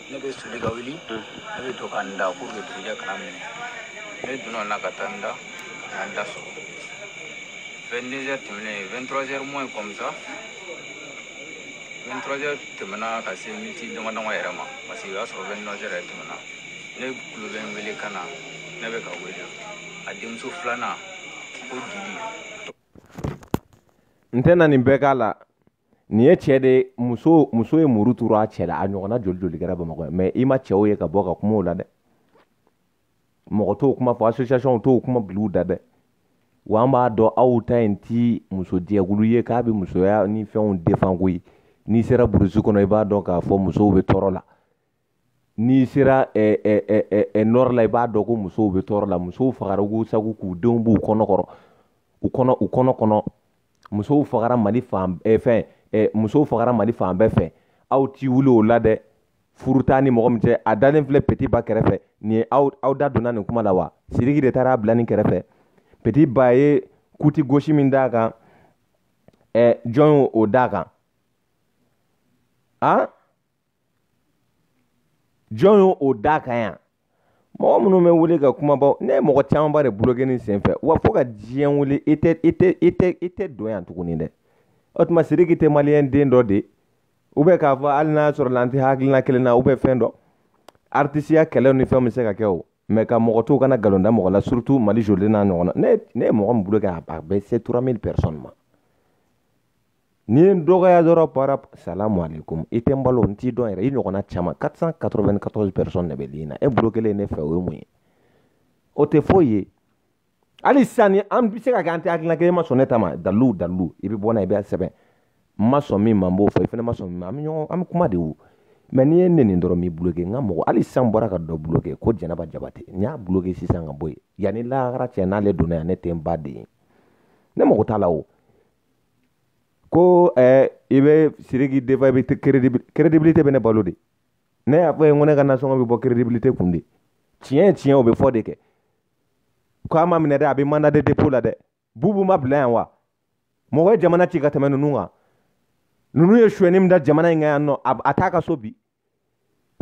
S1: ne bɛ soli ka wuli ne bɛ to ka n da pour que dugujɛ kana n minɛ ne donna la ka taa n da ka n da sɔgɔ 22 heures tɛmɛnen 23 heures moins comme ça 23 heures tɛmɛna ka se miniti dama dama yɛrɛ ma parce que o y'a sɔrɔ 29 heures yɛrɛ tɛmɛna ne kulo bɛ n wele kan na ne bɛ ka wele a denmuso filanan ko dili n tɛna nin bɛɛ k'a la nin ye cɛ de muso muso ye muru turu a cɛ la a ɲɔgɔnna joli joli kɛra bamakɔ yan mais i ma cɛw ye ka bɔ ka kuma o la dɛ mɔgɔ t'o kuma fɔ association t'o kuma biliw da dɛ wa an b'a dɔn aw ta in ti muso jɛkulu ye k'a bɛ musoya ni fɛnw defan koyi n'i sera burusi kɔnɔ i b'a dɔn k'a fɔ musow bɛ tɔɔrɔ la n'i sera eh, eh, eh, eh, eh nɔrɔ la i b'a dɔn ko musow bɛ tɔɔrɔ la musow fagara k'u sago k'u denw b'u kɔnɔ kɔrɔ u kɔnɔ u kɔnɔ kɔnɔ musow fagara mali fan eh, fɛn eh, musow fagara mali fan bɛɛ fɛ aw t'i wuli o la dɛ furu t'a ni mɔgɔ min cɛ a dalen filɛ peti ba kɛrɛfɛ nin ye aw aw da donna nin kuma la wa siriki de taara bila nin kɛrɛfɛ peti ba ye kuti gosi min d'a kan eh, jɔn y'o o d'a kan a ah? jɔn ye o da kan yan mɔgɔ minnu bɛ wuli ka kumaba ne ye mɔgɔ camanba de buloke ni senfɛ wa fo ka diɲɛ wuli i tɛ i tɛ i tɛ i tɛ don yan tuguni dɛ o tuma siriki tɛ maliyɛn den dɔ de u bɛ k'a fɔ hali n'a sɔrɔ la an tɛ hakilina kelen na u bɛ fɛn dɔ aritisiya kɛlɛw ni fɛnw bɛ se ka kɛ o mɛ ka mɔgɔ to kana nkalon da mɔgɔ la surutu mali joli n'a ɲɔgɔn na ne ye mɔgɔ min buloke a bɛ se trois mille personnes ma N'i ye n dɔgɔya dɔrɔn par rapport salamu aleykum i tɛ n balo n t'i dɔn yɛrɛ i ɲɔgɔnna caman 494 personnes de bɛ ligne na e blokelen ne fɛ o ye mun ye o tɛ foyi ye hali sisan ni an bɛ se ka kɛ an tɛ hakilina kelen ma sɔn ne ta ma dalilu dalilu i bɛ bɔ n'a ye i bɛ sɛbɛn n ma sɔn min ma n b'o fɔ i fana ma sɔn min ma an bɛ ɲɔgɔn an bɛ kuma de o mɛ n'i ye n nɛni dɔrɔn n b'i bloke n ka mɔgɔ hali sisan n bɔra ka dɔ bloke ko jɛnɛba jabate n y'a bloke sisan ka bɔ yen yan ni lahara cɛ n'ale donna yan ne tɛ n ba den ye ne mago t'a la o ko ɛɛ i bɛ siriki défendre i bɛ credibilité bɛ ne balo de ne y'a fɔ i ye ko ne ka nasɔngɔ bɛ bɔ credibilité kun de tiɲɛ ye tiɲɛ o bɛ fɔ de kɛ ko a ma minɛ dɛ a bɛ mandat de dépôt la dɛ bubu ma bila yan wa mɔgɔ ye jamana ci ka tɛmɛ ninnu kan ninnu ye suyɛni min da jamana in kan yan nɔ a t'a ka so bi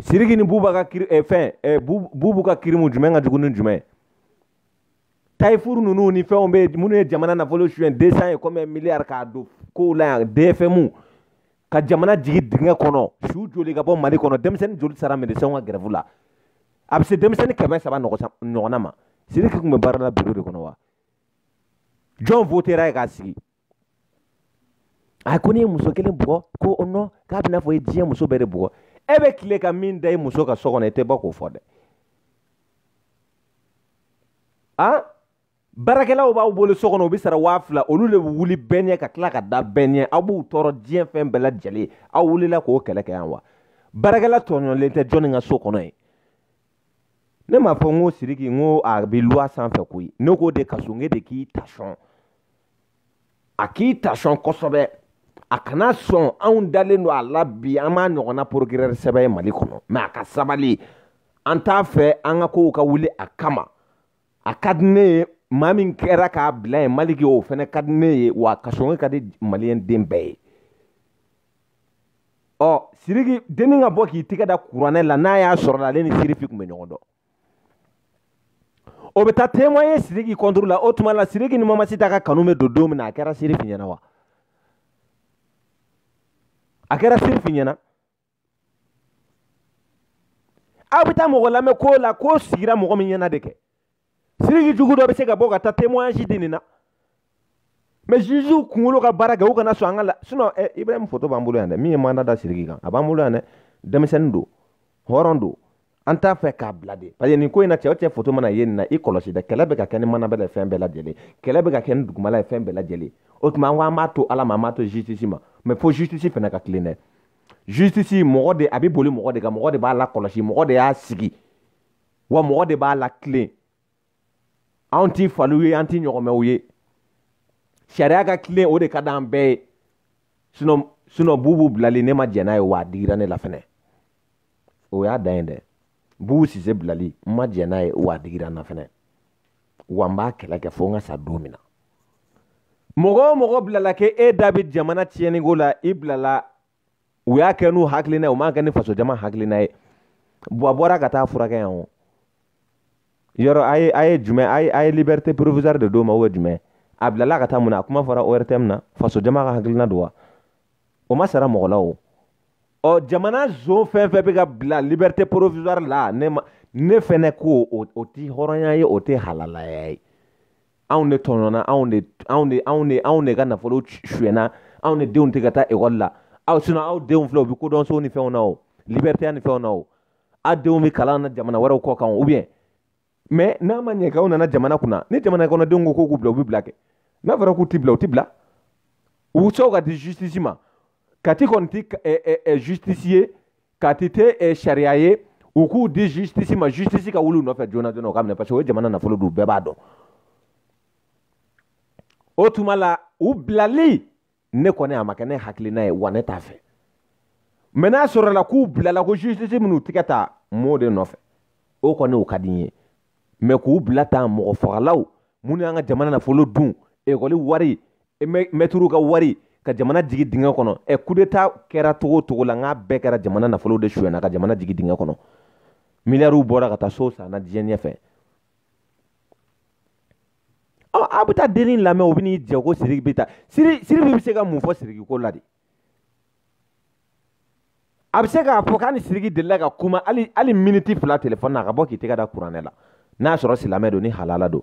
S1: siriki ni bubu ka kiri eh, fɛn eh, bubu ka kirimu jumɛn ka jugu ni jumɛn tayifuru ninnu ni fɛnw bɛ minnu ye jamana nafolo suyɛn deux cent et combien milliards k'a don kow la yan dfmw ka jamana jigin dingɛ kɔnɔ su joli ka bɔ mali kɔnɔ denmisɛnnin joli sara medesɛnw ka gɛrɛfu la a bɛ se denmisɛnnin kɛmɛ saba ɲɔgɔnna ma siriki tun bɛ baara la biro de kɔnɔ wa jɔn votera a ye k'a sigi a ko ne ye muso kelen bugɔ ko o nɔ k'a bɛna fɔ i diɲɛ muso bɛɛ de bugɔ e bɛ tile ka min da i muso kan so kɔnɔ i tɛ bɔ k'o fɔ dɛ a baarakɛlaw b'aw bolo so kɔnɔ u bɛ sara waa fila olu de bɛ wuli bɛɛ ɲɛ ka tila ka da bɛɛ ɲɛ aw b'u tɔɔrɔ diɲɛ fɛn bɛɛ lajɛlen aw wulila k'o kɛlɛ kɛ yan wa baarakɛla tɔɲɔlen tɛ jɔnni ka so kɔnɔ ye ne m'a fɔ n ko siriki n ko a bɛ luwa sanfɛ koyi ne k'o de kaso n de k'i tasɔn a k'i tasɔn kosɛbɛ a kana sɔn anw dalen don a la bi an m'a ɲɔgɔnna porokirɛri sɛbɛ ye mali kɔnɔ mɛ a ka sabali an t'a fɛ an ka kow ka wuli a kama a ka di ne ye maa min kɛra k'a bila yen maliki o fana ka di ne ye wa kasoge ka di maliyɛn den bɛɛ ye ɔ siriki dennin ka bɔ k'i tɛgɛ da kuranɛ la n'a y'a sɔrɔ la ale ni sirifi tun bɛ ɲɔgɔn dɔn o bɛ taa témoigner Sidiki contre la o tuma la Sidiki ni Mamasita ka kanu bɛ don don min na a kɛra Sirifi ɲɛna wa a kɛra Sirifi ɲɛna aw bɛ taa mɔgɔ lamɛn ko la ko sigira mɔgɔ min ɲɛna de kɛ Sidiki jugu dɔ bɛ se ka bɔ ka taa témoignage di nin na mɛ ziziw kunkolo ka baara kɛ u kana sɔn an ka la sinɔn ɛ ibrahim foto b'an bolo yan dɛ min ye manda da siriki kan a b'an bolo yan dɛ denmisɛnnin don hɔrɔn don an t'a fɛ k'a bila de parce que nin ko in na cɛ o cɛ foto mana ye nin na i kɔlɔsi dɛ kɛlɛ bɛ ka kɛ ni mana bɛɛ la fɛn bɛɛ lajɛlen kɛlɛ bɛ ka kɛ ni dugumala ye fɛn bɛɛ lajɛlen o tuma an ko an b'a to ala ma an b'a to justice ma mɛ fo justice fana ka tilen dɛ justice mɔgɔ de a bɛ boli mɔgɔ de kan mɔgɔ de b'a lakɔlɔsi mɔgɔ de y'a sigi wa mɔgɔ de b'a latilen anw tɛ faliw ye an tɛ ɲɔgɔmɛw ye sariya ka tilen o de ka d'an bɛɛ ye sinɔn sinɔn bubu bilali ne ma jɛn n'a ye wa a digira ne la fɛnɛ o y'a dan ye dɛ bubu sise bilali n ma jɛn n'a ye wa a digira n na fɛnɛ wa n b'a kɛlɛ kɛ fo n ka sa don min na mɔgɔ o mɔgɔ bilala k'e da bɛ jamana tiɲɛniko la i bilala u y'a kɛ n'u hakilina ye u m'a kɛ ni faso jama hakilina ye bɔn a bɔra ka taa furakɛ yan o yɔrɔ a ye a ye jumɛn a ye a ye liberté provisoire de d'o ma ubiyɛn jumɛn a bilala ka taa mun na a kuma fɔra ortm na faso jama ka hakilina don wa o ma sara mɔgɔ la o ɔ jamana zon fɛn fɛn bɛ ka bila liberté provisoire la ne ma ne fɛnɛ ko o tɛ hɔrɔnya ye o tɛ halalaya ye anw de tɔɲɔna anw de anw de anw de anw de ka nafolo sunyɛna anw de denw tɛ ka taa ekɔli la aw sinɔn aw denw filɛ u bɛ kodɔnso ni fɛnw na o liberté a ni fɛnw na o aw denw bɛ kalan na jamana wɛrɛw kɔkan ou bien mɛ n'a ma ɲɛ kɛ aw nana jamana kunna ni jamana kɔnɔdenw ko k'u k'u bila u bɛ bila kɛ n'a fɔra k'u tɛ bila u tɛ bila u sonw ka di justice ma kati kɔni tɛ justice ye kati tɛ eh, sariya ye u k'u di justice ma justice ka wuli u nɔfɛ joona joona o ka minɛ parce que o ye jamana nafolo dun bɛɛ b'a dɔn o tuma la u bilali ne kɔni a ma kɛ ne hakilina ye wa ne t'a fɛ mɛ n'a sɔrɔla k'u bilala ko justice minnu tigɛ ta m'o de nɔfɛ o kɔni o ka di n ye mɛ k'u bila tan mɔgɔ fagalaw minnu y'an ka jamana nafolo dun ekɔli wari e mɛturu ka wari ka jamana jigin dingɛ kɔnɔ ɛ kudeta kɛra togo togo la n'a bɛɛ kɛra jamana nafolo de sonyana ka jamana jigin dingɛ kɔnɔ miliyariw bɔra ka taa so sanna diɲɛ ɲɛfɛ ɔ a bɛ taa denni lamɛn o bɛ n'i jɔ ko siriki bɛ taa siri siri bɛ se ka mun fɔ siriki ko la de a bɛ se k'a fɔ k'a ni siriki delila ka kuma hali hali miniti fila telefɔni na a ka bɔ k'i tɛgɛ da kuranɛ la n'a sɔrɔ silamɛ don ni halala don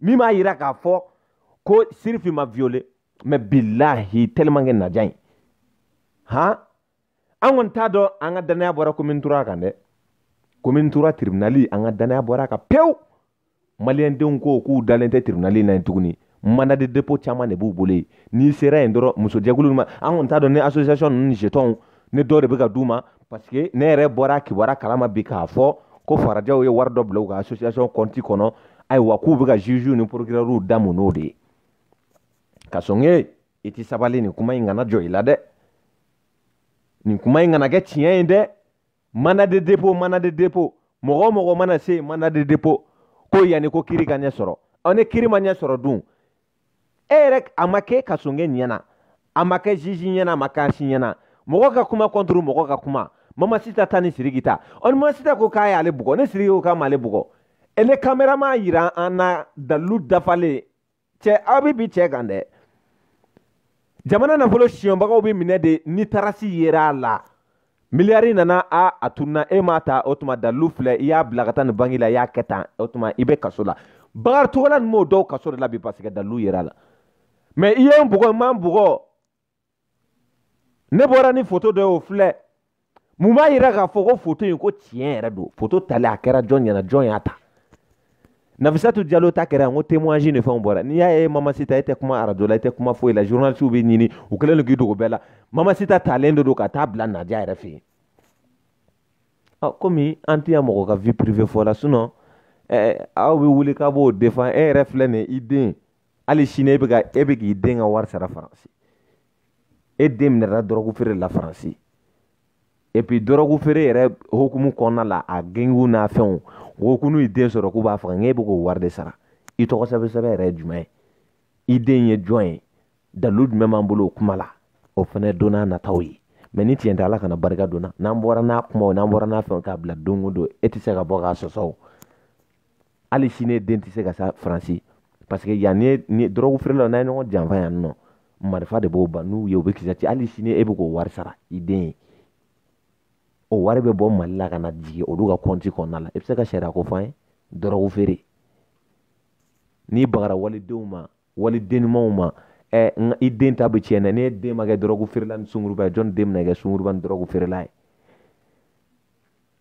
S1: min b'a yira k'a fɔ ko siriki ma violé mɛ bilahi tellement que nadia in han an kɔni t'a dɔn an ka dannaya bɔra commune trois kan dɛ commune trois tribunali an ka dannaya bɔra a kan pewu maliyɛndenw ko k'u dalen tɛ tribunali na yen tuguni mandat de dépôt caman de b'u bolo yen n'i sera yen dɔrɔn musojɛkulu ma an kɔni t'a dɔn ni association ninnu jetɔnw ni dɔw de bɛ ka d'u ma parce que ne yɛrɛ bɔra kibaruya kalama bi k'a fɔ ko farajɛw ye wari dɔ bila u ka association kɔnti kɔnɔ ayiwa k'u bɛ ka jugew ni procureurw da mun n'o de ye kasɔge i tɛ sabali nin kuma in kana jɔ i la dɛ nin kuma in kana kɛ tiɲɛ ye dɛ mandat de dépôt mandat de dépôt mɔgɔ o mɔgɔ mana se mandat de dépôt ko yanni ko kiri ka ɲɛ sɔrɔ ɔ ni kiri ma ɲɛ sɔrɔ dun e yɛrɛ a ma kɛ kasɔge ɲɛ na a ma kɛ juge ɲɛ na a ma kɛ an si ɲɛ na mɔgɔ ka kuma kɔnturu mɔgɔ ka kuma mama sita ta ni siriki ta ɔ ni ma sita ko k'a y'ale bugɔ ni siriki ko k'a m'ale bugɔ e ni kamera m'a yira an na dalilu dafalen cɛ aw bɛ bin cɛ kan dɛ jamana nafolo sonyabagaw bɛ minɛ de ni tarasi yera a la miliyari nana a a tununa e m'a ta o tuma dalilu filɛ i y'a bila ka taa nin banki la i y'a kɛ tan o tuma i bɛ kaso la bakari togola ni mɔgɔ dɔw kaso de la bi parce que dalilu yera a la mɛ i ye n bugɔ i ma n bugɔ ne bɔra ni foto dɔ ye o filɛ mun b'a yira k'a fɔ ko foto in ko tiɲɛ yɛrɛ don foto tali a kɛra jɔn ɲɛ na jɔn y'a ta Nafisatu Diallo ta kɛra n ko témoignage ni fɛnw bɔra n'i y'a ye Mama Sita e tɛ kuma arajo la e tɛ kuma foyi la journalistes b'i ɲini u kɛlen don k'i dogo bɛɛ la Mama Sita talen de don ka taa bila Nadia yɛrɛ fɛ yen ɔ komi an tɛ yan mɔgɔ ka vie privée fɔ la sinon ɛɛ aw bɛ wuli k'a b'o défend e yɛrɛ filɛ nin ye i den hali sini e bɛ ka e bɛ k'i den ka wari sara Faransi e den minɛra dɔrɔgu feere la Faransi et puis dɔrɔgu feere yɛrɛ hukumu kɔnɔna la a gengiw n'a fɛnw o ko n'u y'i den sɔrɔ k'u b'a faga nka e bɛ k'o wari de sara i tɔgɔ sɛbɛn sɛbɛn yɛrɛ ye jumɛn ye i den ye jɔn ye dalilu jumɛn b'an bolo o kuma la o fana don n'a nataw ye mɛ ni tiɲɛ tɛ ala kana barika don n na n'an bɔra n'a kumaw n'an bɔra n'a fɛnw k'a bila don o don e tɛ se ka bɔ k'a sɔsɔ o hali sini den tɛ se ka sa faransi parce que yan ni dɔrɔgu feerelaw n'u ye ɲɔgɔn janfa yan nɔ marifa de b'o ban n'u ye u bɛ kisɛ ci hali sini e bɛ k'o wari sara i den ye o wari bɛ bɔ mali la ka na jigin olu ka kɔnti kɔnɔna la i bɛ se ka sariya ko fɔ an ye dɔrɔgu feere n'i bagara walidenw ma waliden ɲumanw ma ɛ n i den ta bɛ tiɲɛ dɛ ne den ma kɛ dɔrɔgu feerela ni sungurunba ye jɔni den bɛna kɛ sungurunba ni dɔrɔgu feerela ye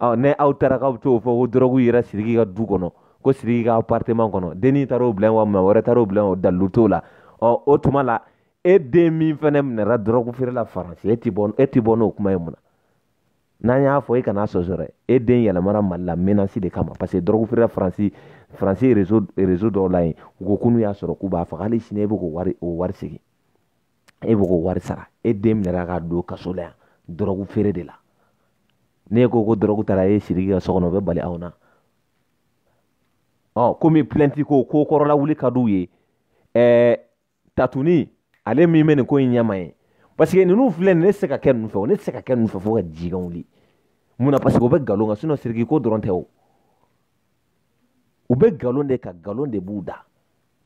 S1: ɔ ne aw taara k'aw bɛ t'o fɔ ko dɔrɔgu yera siriki ka du kɔnɔ ko siriki ka appartement kɔnɔ denni taara o bila yen wa maa wɛrɛ taara o bila yen o dalilu t'o la ɔ o tuma la e den min fana minɛra dɔrɔgu feere la faransi e tɛ bɔ e tɛ bɔ n'o kuma ye mun na n'an y'a fɔ e kan'a sɔsɔ dɛ e den yɛlɛmana mali la menasi de kama parce que dɔrɔgu feerela faransi faransi rezo rezo dɔw la yen u ko ko n'u y'a sɔrɔ k'u b'a faga hali sini e bɛ k'o wari o wari segin e bɛ k'o wari sara e den minɛra ka don kaso la yan dɔrɔgu feere de la n'e ko ko dɔrɔgu taara e siriki ka so kɔnɔ o bɛ bali aw na ɔ komi pilɛnti ko ko kɔrɔ lawuli ka d'u ye ɛɛ tatuni ale min bɛ nin ko in ɲɛmaa ye parce que ninnu filɛ nin ne tɛ se ka kɛ ninnu fɛ o ne tɛ se ka kɛ ninnu fɛ fo ka jikan wuli mun na parce que o bɛ nkalon kan sinɔn siriki ko dɔrɔn tɛ o u bɛ nkalon de kan nkalon de b'u da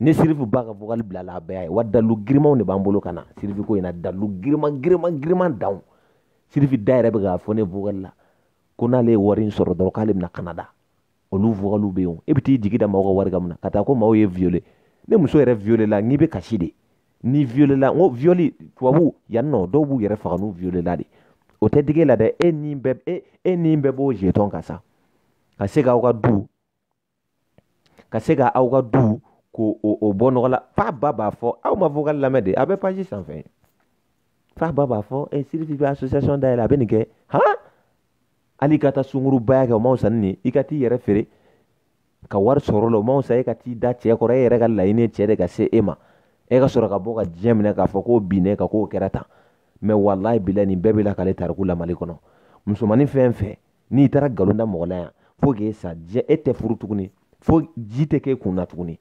S1: ne sirifu ba ka vocal bila la a bɛɛ ye wa dalilu girinmanw de b'an bolo ka na sirifi ko in na dalilu girinman girinman girinman danw sirifi da yɛrɛ bɛ k'a fɔ ne vocal la ko n'ale ye wari in sɔrɔ dɔrɔn k'ale bɛ na kanada olu vocalw bɛ yen e bɛ t'i jigi da maaw ka wari kan mun na ka taa ko maaw y'e viole ne muso yɛrɛ violela n'i bɛ kasi de ni viole la n ko violi tubabu yan nɔ dɔw b'u yɛrɛ faga n'u violela dɛ o tɛ digi e la dɛ e ni bɛɛ e e ni bɛɛ b'o jetɔn kan sa ka se k'aw ka du ka se ka aw ka du ko o o bɔ nɔgɔ la fa ba b'a fɔ aw ma vocal lamɛn de a bɛ page sanfɛ fa ba b'a fɔ e sirifi bɛ association dayɛlɛ a bɛ nin kɛ han hali i ka taa sungurunbaya kɛ o ma sanni nin i ka t'i yɛrɛ feere ka wari sɔrɔ la o ma sa e ka t'i da cɛ kɔrɔ e yɛrɛ ka laɲini cɛ de ka se e ma e ka sɔrɔ ka bɔ ka diɲɛ minɛ k'a fɔ k'o bin ne kan k'o kɛra tan mɛ walayi bilayi nin bɛɛ bɛ lakali tariku la mali kɔnɔ musomanin fɛn fɛn n'i taara nkalon da mɔgɔ la yan fo k'e sa diɲɛ e tɛ furu tuguni fo ji tɛ k'e kun na tuguni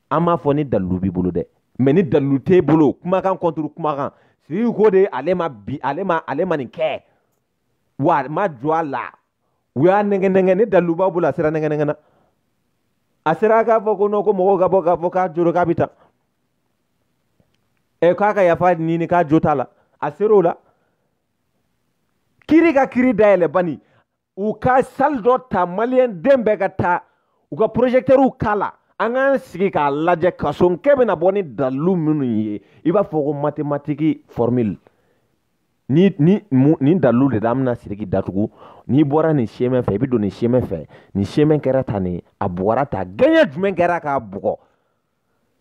S1: an b'a fɔ ni dalilu b'i bolo dɛ mɛ ni dalilu t'e bolo kumakan kɔnturu kumakan siriki ko de ale ma bi ale ma ale ma nin kɛ wa a ma jɔ a la u y'a nɛgɛn nɛgɛn ni dalilu b'a bolo a sera nɛgɛn nɛgɛn na a sera k'a fɔ ko nɔ ko mɔgɔw ka bɔ k'a fɔ k'a joro k'a bɛ taa ɛ k'a ka yafa ɲini k'a jo t'a la a ser'o la kiri ka kiri dayɛlɛ bani u ka sali dɔ ta maliyɛn den bɛɛ ka taa u ka porozɛtɛriw k'a la an k'an sigi k'a lajɛ kasonkɛ bɛna bɔ ni dalilu minnu ye i b'a fɔ ko matematiki fɔrmili ni ni nin dalilu de la an bɛna siriki datugu n'i bɔra nin semɛ fɛ i bɛ don nin semɛ fɛ nin semɛ kɛra tan nin a bugɔra tan gɛɲɛ jumɛn kɛra k'a bugɔ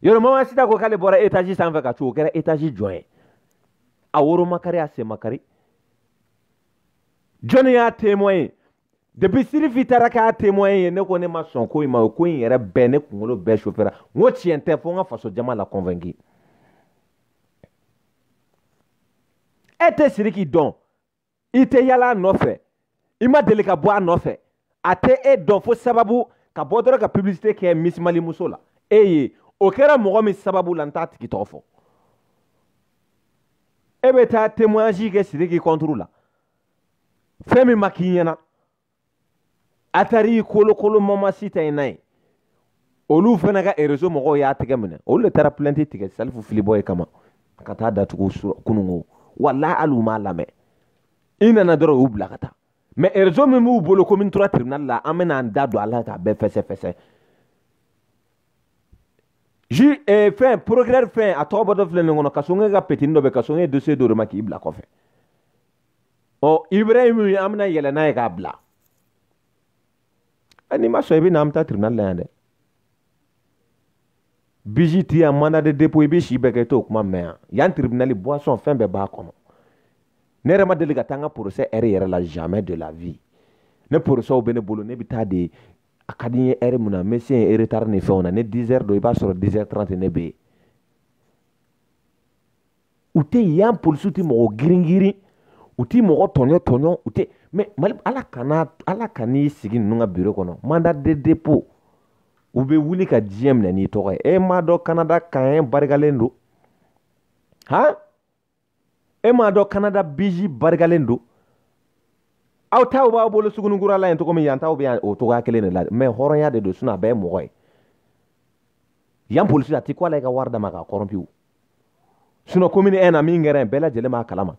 S1: yɔrɔ mamasita ko k'ale bɔra etazi sanfɛ ka cun o kɛra etazi jɔn ye a woro ma kari a sen ma kari jɔnni y'a témoin ye depuis sirifi taara k'a témoin ye ne ko ne ma sɔn ko in ma o ko in yɛrɛ bɛɛ ne kunkolo bɛɛ sofera n ko tiɲɛ tɛ fo n ka faso jama la convaincu e tɛ siriki dɔn i tɛ yala a nɔfɛ i ma deli ka bɔ a nɔfɛ a tɛ e dɔn fo sababu ka bɔ dɔrɔn ka publicité kɛ misimali muso la e ye o kɛra mɔgɔ min sababu la n t'a tigi tɔgɔ fɔ e bɛ taa témoignage kɛ siriki kɔnturu la fɛn min ma k'i ɲɛna atari kolokolo mamasita in na ye olu fana ka erezo mɔgɔw y'a tɛgɛ minɛ olu de taara plɛnti tigɛ salifu filibɔ ye kama ka taa datugu kununko wala hali u m'a lamɛn i nana dɔrɔn u y'u bila ka taa mɛ erezo min b'u bolo ko min tora tribunal la an bɛna an da don a la k'a bɛɛ fɛsɛfɛsɛ ju eh, fɛn procureur fɛn a tɔgɔ bɔtɔ filɛ ne kɔnɔ kasonge ka petini dɔ bɛ kasonge dossier dɔ de ma k'i bila kɔfɛ ɔ ibra ye min ye an bɛna yɛlɛ n'a ye k'a bila n'i ma sɔn i bɛ na an bɛ taa tribunal la yan dɛ bisi ti yan mandat de dépôt i bɛ si bɛɛ kɛ i t'o kuma mɛn yan yan tribunal boisson fɛn bɛɛ b'a kɔnɔ ne yɛrɛ ma deli ka taa n ka procès ɛri yɛrɛ la jamais de la vie ne procès bɛ ne bolo ne bɛ taa de a ka di n ye ɛri mun na n bɛ se yen retard ni fɛnw na ne 10 heures don i b'a sɔrɔ 10 heures 30 ne bɛ yen u tɛ yen yan polisiw tɛ mɔgɔ giringirin u tɛ mɔgɔ tɔɲɔ tɔɲɔ u tɛ mɛ mali ala kana ala kan'i sigi ninnu ka biro kɔnɔ manda de depo u bɛ wuli ka diɲɛ minɛ n'i tɔgɔ ye e m'a dɔn kanada kan barikalen don han e m'a dɔn kanada biji barikalen don aw taw b'aw bolo sugunikura la yen cogo min yan taw bɛ yan o cogoya kelen de la mɛ hɔrɔnya de don sinɔn a bɛɛ ye mɔgɔ ye yan polisi a tɛ ko ala i ka wari d'a ma k'a kɔrɔnpu sinon komini ɛn na min kɛra yen bɛɛ lajɛlen b'a kalama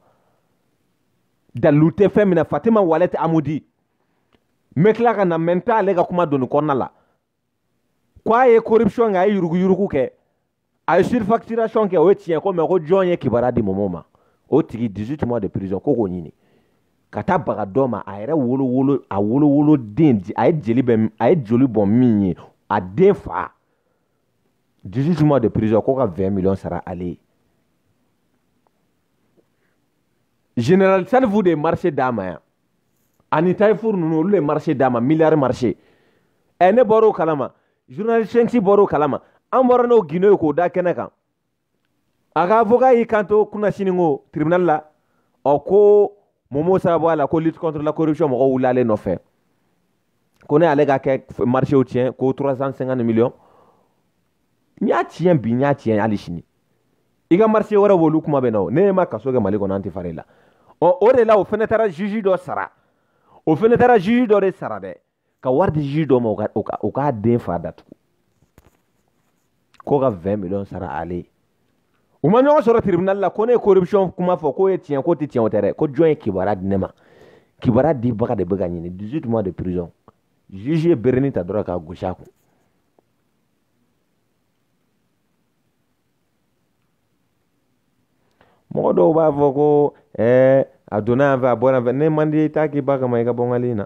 S1: dalilu tɛ fɛn min na fatima walɛti amudi n bɛ tila ka na mɛ n t'ale ka kuma don nin kɔnɔna la ko a ye corruption kɛ a ye yuruguyurugu kɛ a ye surfacturation kɛ o ye tiɲɛ ko mɛ ko jɔn ye kibaruya di mɔmɔ ma o tigi 18 mois de prison ko k'o ɲini ka taa baga dɔ ma a yɛrɛ wolowolo a wolowoloden a ye jeli bɛ a ye joli bɔn min ye a den fa 18 mois de prison k'o ka 20 millions sara ale ye général salifu de ye marché d'a ma yan ani tayifour ninnu olu de ye marché d'a ma milliard marché ɛ ne bɔr'o kalama journaliste sensi bɔr'o kalama an bɔra n'o guineo ye k'o da kɛnɛ kan a ka avocat y'i kanto kunasini kɔ tribunal la ɔ ko momo sababu a la ko lutte contre la corruption mɔgɔw wulilen nɔfɛ ko ne ale ka kɛ marchew tiɲɛ ko 350 millions n y'a tiɲɛ bi n y'a tiɲɛ hali sini i ka marché wɛrɛ b'olu kuma bɛ na o ne ma kaso kɛ mali kɔnɔ an tɛ fara i la ɔ o de la o fɛnɛ taara juge dɔ sara o fɛnɛ taara juge dɔ de sara dɛ ka wari di juge dɔ ma o ka o ka o k'a den fa datugu k'o ka 20 millions sara ale ye u ma ɲɔgɔn sɔrɔ tribunal la ko ne ye corruption kuma fɔ k'o ye tiɲɛ k'o tɛ tiɲɛ o tɛ dɛ ko jɔn ye kibaruya di ne ma kibaruya dibaga de bɛ ka ɲini 18 mois de prison juge ye berenin ta dɔrɔn k'a gosi a kun mɔgɔ dɔw b'a fɔ ko ɛɛ a donna yan fɛ a bɔra yan fɛ ne man di i t'a k'i ba kama i ka bɔ n ka ligne na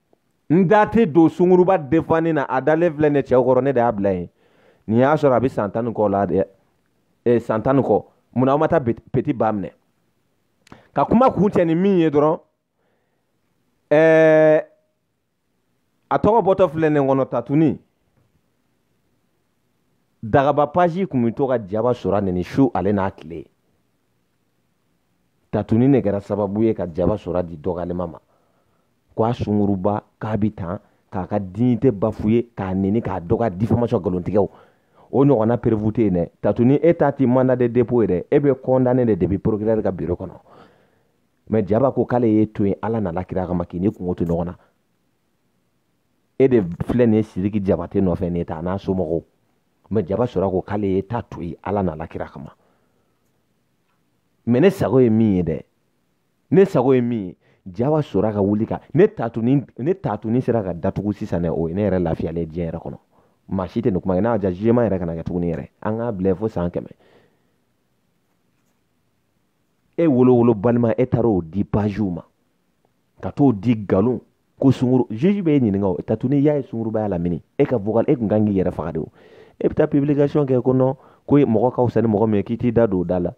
S1: n da tɛ don sunguruba defanni na a dalen filɛ ne cɛw kɔrɔ ne de y'a bila yen nin y'a sɔrɔ a bɛ san tan ni kɔ la dɛ eh, san tan ni kɔ mun na aw ma taa peti ba minɛ ka kuma kun cɛ ni min ye dɔrɔn eh, a tɔgɔ bɔtɔ filɛ ne kɔnɔ tatuni dagaba page tun bɛ to ka jaba sora nɛni su ale n'a tile tatuni ne kɛra sababu ye ka jaba sora di dɔgɔlima ma ko a sunguruba k'a bɛ tan k'a ka dignité bafouer k'a nɛni k'a dɔgɔ diffamation nkalontigɛw o ɲɔgɔnna preuve tɛ yen dɛ tatuni e ta tun mandat de dépôt ye dɛ e bɛ condamner de depuis procureur ka biro kɔnɔ mais jaba ko k'ale y'i to yen ala n'a la kira kama k'i ni kungo to ɲɔgɔn na e de filɛ nin ye sidiki jabate nɔfɛ nin ye ta a n'a somɔgɔw mais jaba sora ko k'ale ye ta to yen ala n'a la kira kama mais ne sago ye min ye dɛ ne sago ye min ye jaba sora ka wuli ka ne tatuni ne tatuni sera ka datugu sisan dɛ o ye ne yɛrɛ lafiyalen diɲɛ yɛrɛ kɔnɔ maa si tɛ nin kuma kɛ n'a ja jema yɛrɛ kana kɛ tuguni yɛrɛ an k'a bila fo san kɛmɛ e wolowolo balima e taara o di pagew ma ka t'o di nkalon ko sunguruba juge bɛ e ɲininka o tatuni y'a ye sunguruba y'a lamɛn e ka vocal e kun kan k'i yɛrɛ faga de o e bɛ taa publication kɛ ko non ko mɔgɔ ka fisa ni mɔgɔ min ye k'i t'i da don o da la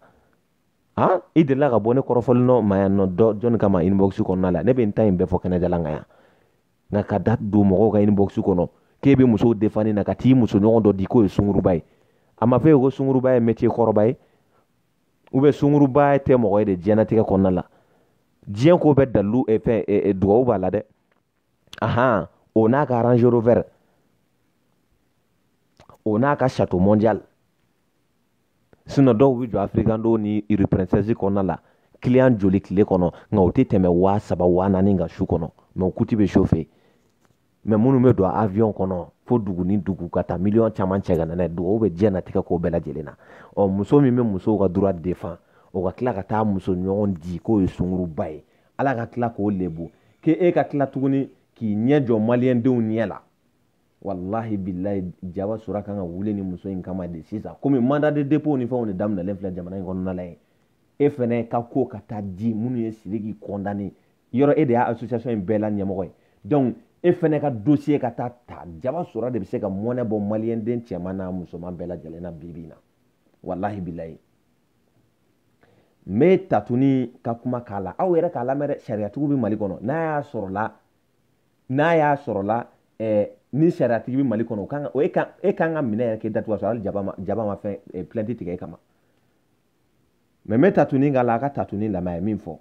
S1: han i delila ka bɔ ne kɔrɔfɔli nɔ ma yan nɔ dɔ jɔn ka inbox kɔnɔna la ne bɛ n ta in bɛɛ fɔ kɛnɛjalan kan yan nka ka da don mɔgɔw ka inbox kɔnɔ k'e bɛ musow defanni na ka t'i muso ɲɔgɔn dɔ di k'o ye sunguruba ye a ma fɔ e ko sunguruba ye métier kɔrɔba ye u bɛ sunguruba tɛ mɔgɔ ye de diɲɛnatigɛ kɔnɔna la diɲɛ ko bɛɛ dalilu eh, fɛn eh, eh, dugawu b'a la dɛ ahan o n'a ka range rover o n'a ka chateau mondial sinɔn dɔw bɛ jɔ africando ni rue princesse kɔnɔna la kiliyan joli tile kɔnɔ nka u tɛ tɛmɛ waa saba waa naani kan su kɔnɔ mɛ u kuti bɛ sofe mɛ minnu bɛ don avion kɔnɔ fo dugu ni dugu ka taa miliyɔn caman cɛ ka na n'a ye dugawu bɛ diɲɛnatigɛ ko bɛɛ lajɛlen na ɔ muso min bɛ musow ka droit défendre o ka tila ka taa muso ɲɔgɔn di k'o ye sunguruba ye ala ka tila k'o lebu k'e e ka tila tuguni k'i ɲɛ jɔ maliyɛndenw ɲɛ la walahi bilayi jaba sora kan ka wuli ni muso in kama de sisan komi mandat de dépôt ni fɛnw de daminɛlen filɛ jamana in kɔnɔna la ye e fɛnɛ ka ko ka taa di minnu ye sidiki kɔndane yɔrɔ e de y'a association in bɛɛ la ɲɛmɔgɔ ye donc e fɛnɛ ka dossier ka taa ta jaba sora de bɛ se ka mɔnɛ bɔ maliyɛn den cɛman n'a musoman bɛɛ lajɛlen na bi bi in na walahi bilayi n bɛ tatuni ka kuma k'a la aw yɛrɛ k'a lamɛn dɛ sariyatigiw bɛ mali kɔnɔ n'a y'a sɔrɔla n'a y'a sɔrɔla ɛɛ ni sariyatigi bɛ mali kɔnɔ o kan ka o e kan e kan ka minɛ yɛrɛ k'e datugu ka sɔrɔ hali jaba ma jaba ma fɛn eh, plainte tigɛ e kama mɛ n bɛ tatuni k'a la a ka tatuni lamɛn a ye min fɔ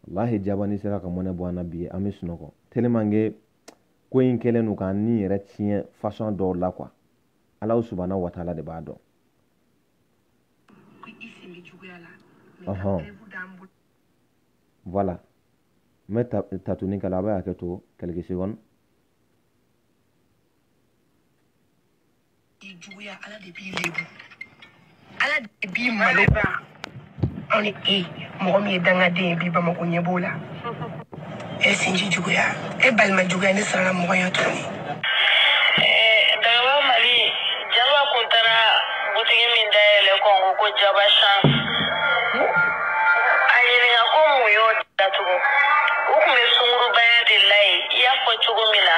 S1: walahi jabani sera ka mɔnɛ bɔ an na bi an bɛ sunɔgɔ tellement que ko in kɛlen don k'an ni yɛrɛ tiɲɛ fasɔn dɔw la kuwa alahu subana wataala de b'a dɔn ɔhɔn voilà n bɛ tatuni k'a la a bɛ hakɛ to quelques secondes i juguya ala de b'i lebu ala de b'i malo anw ni e mɔgɔ min ye dangaden ye bi bamako ɲɛ b'o la e sinji juguya e balima juguya ne sirala mɔgɔya tuguni dagaba mali jaba kun taara butigi min dayɛlɛ kɔngo ko jaba chance a ɲininka ko mun y'o datugu u kun bɛ sungurubaya de la yen i y'a fɔ cogo min na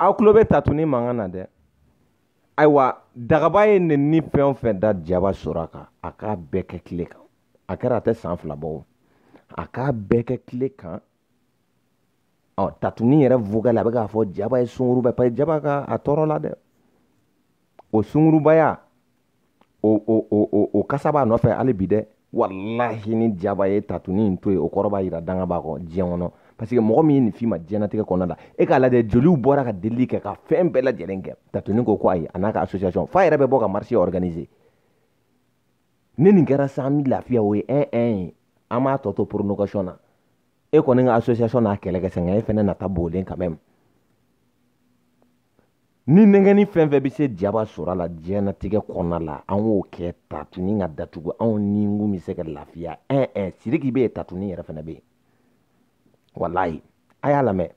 S1: aw tulo bɛ tatuni mankan na dɛ ayiwa dagaba ye nenini fɛn o fɛn da jaba sora kan a k'a bɛɛ kɛ tile kan a kɛra a tɛ san fila bɔ o a k'a bɛɛ kɛ kile kan ɔ tatuni yɛrɛ vokali a bɛ k'a fɔ jaba ye sunguruba ye paseke jaba ka a tɔɔrɔ la dɛ o sungurubaya o o o o o kasa b'a nɔfɛ hali bi dɛ walahi ni jaba ye tatuni in to yen o kɔrɔ b'a yira danga b'a kɔ diɲɛ kɔnɔ paseke mɔgɔ min ye nin f'i ma diɲɛnatigɛ kɔnɔna la e k'a lajɛ joliw bɔra ka delili kɛ ka fɛn bɛɛ lajɛlen kɛ tatuni ko ko ayi a n'a ka association f'a yɛrɛ bɛ bɔ ka marche organiser ni nin kɛra sa an bɛ lafiya o ye ɛn ɛn ye an b'a tɔ to prolongation na e kɔni ka asosiyasɔn n'a kɛlɛ kɛ sɛgɛn e fɛnɛ nata b'olen kan mɛm ni nɛgɛnni fɛn fɛn bɛ se jaba sora la diɲɛnatigɛ kɔnɔna la an k'o kɛ tatuni ka datugu anw ni n kun bɛ se ka lafiya ɛn ɛn siriki bɛ yen tatuni yɛrɛ fɛnɛ bɛ yen walayi a y'a lamɛn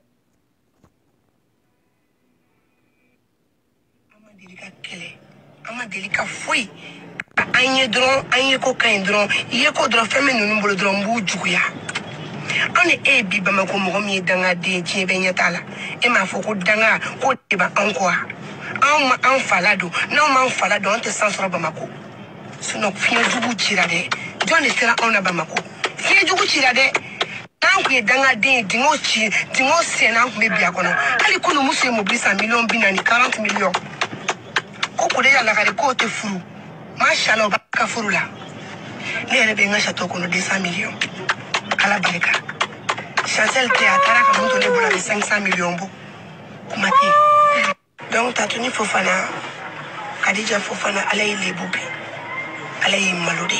S1: an ye dɔrɔn an ye ko ka ɲi dɔrɔn i ye ko dɔrɔn fɛn bɛ ninnu bolo dɔrɔn n b'u juguya an ni e ye bi bamakɔ mɔgɔ min ye dangaden diɲɛ bɛɛ ɲɛ t'a la e m'a fɔ ko danga ko de bɛ anw kɔ wa anw ma an fala don n'anw m'an fala don an tɛ san sɔrɔ bamakɔ sinɔn fiɲɛ jugu cira dɛ jɔn de sera anw na bamakɔ fiɲɛ jugu cira dɛ an tun ye dangaden ye dingo ci dingo senna an tun bɛ bi a kɔnɔ hali kunu muso ye mobili san miliyɔn bi naani karante miliyɔn ko k'o de y'a lakari k'o tɛ furu masala o b'a ka furu la ne yɛrɛ bɛ n ka sato kɔnɔ deux cent miliyɔn ala barika chancel tɛ a taara ka mun to ne bolo a bɛ cinq cent miliyɔn bɔ kuma tɛ yen donc tatuni fofana kadija fofana ala y'i lebu bi ala y'i malo dɛ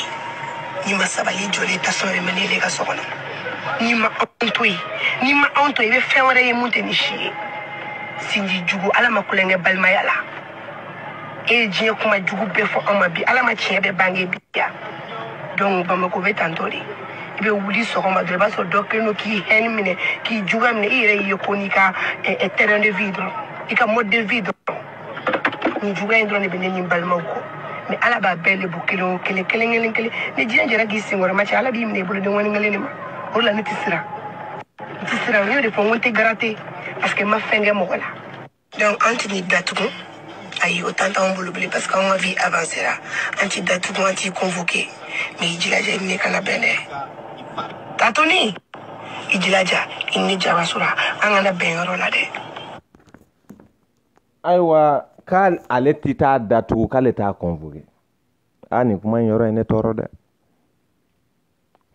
S1: n'i ma sabali jɔlen tasɔn yɛrɛ mɛ ne de ka so kɔnɔ n'i ma anw to yen n'i ma anw to yen i bɛ fɛn wɛrɛ ye min tɛ nin si ye sinji jugu ala ma kulonkɛ balimaya la e ye diɲɛ kuma jugu bɛɛ fɔ anw ma bi ala m'a tiɲɛ bɛɛ bange bi wa donc bamako bɛ tan de i bɛ wuli sɔgɔma dɔrɔn i b'a sɔrɔ dɔ kɛlen don k'i hɛni minɛ k'i juguya minɛ i yɛrɛ y'i ye ko n'i ka train de vie dɔrɔn i ka mode de vie dɔrɔn nin juguya in dɔrɔn de bɛ ne ni n balimaw kɔ mɛ ala b'a bɛɛ lebu kelen o kelen kelen kelen kelen ni diɲɛ jɛra k'i senkɔrɔ ma cɛ ala b'i minɛ i bolo denŋɔni kelen de ma o de la ne tɛ siran n tɛ siran n y'o de fɔ n ko n tɛ garate parce que n ma fɛn kɛ mɔgɔ la donc an tɛn'i datugu ayi o tan t'anw bolo bilen parce que anw ka vie avancera an t'i datugu an t'i convoqué mais i jilaja i ni ne kana bɛn dɛ tatoni i jilaja i ni ne jaba sora an kana bɛn yɔrɔ la dɛ ayiwa k'ale tɛ t'a datugu k'ale t'a convoqué a nin kuma in yɔrɔ ye ne tɔɔrɔ dɛ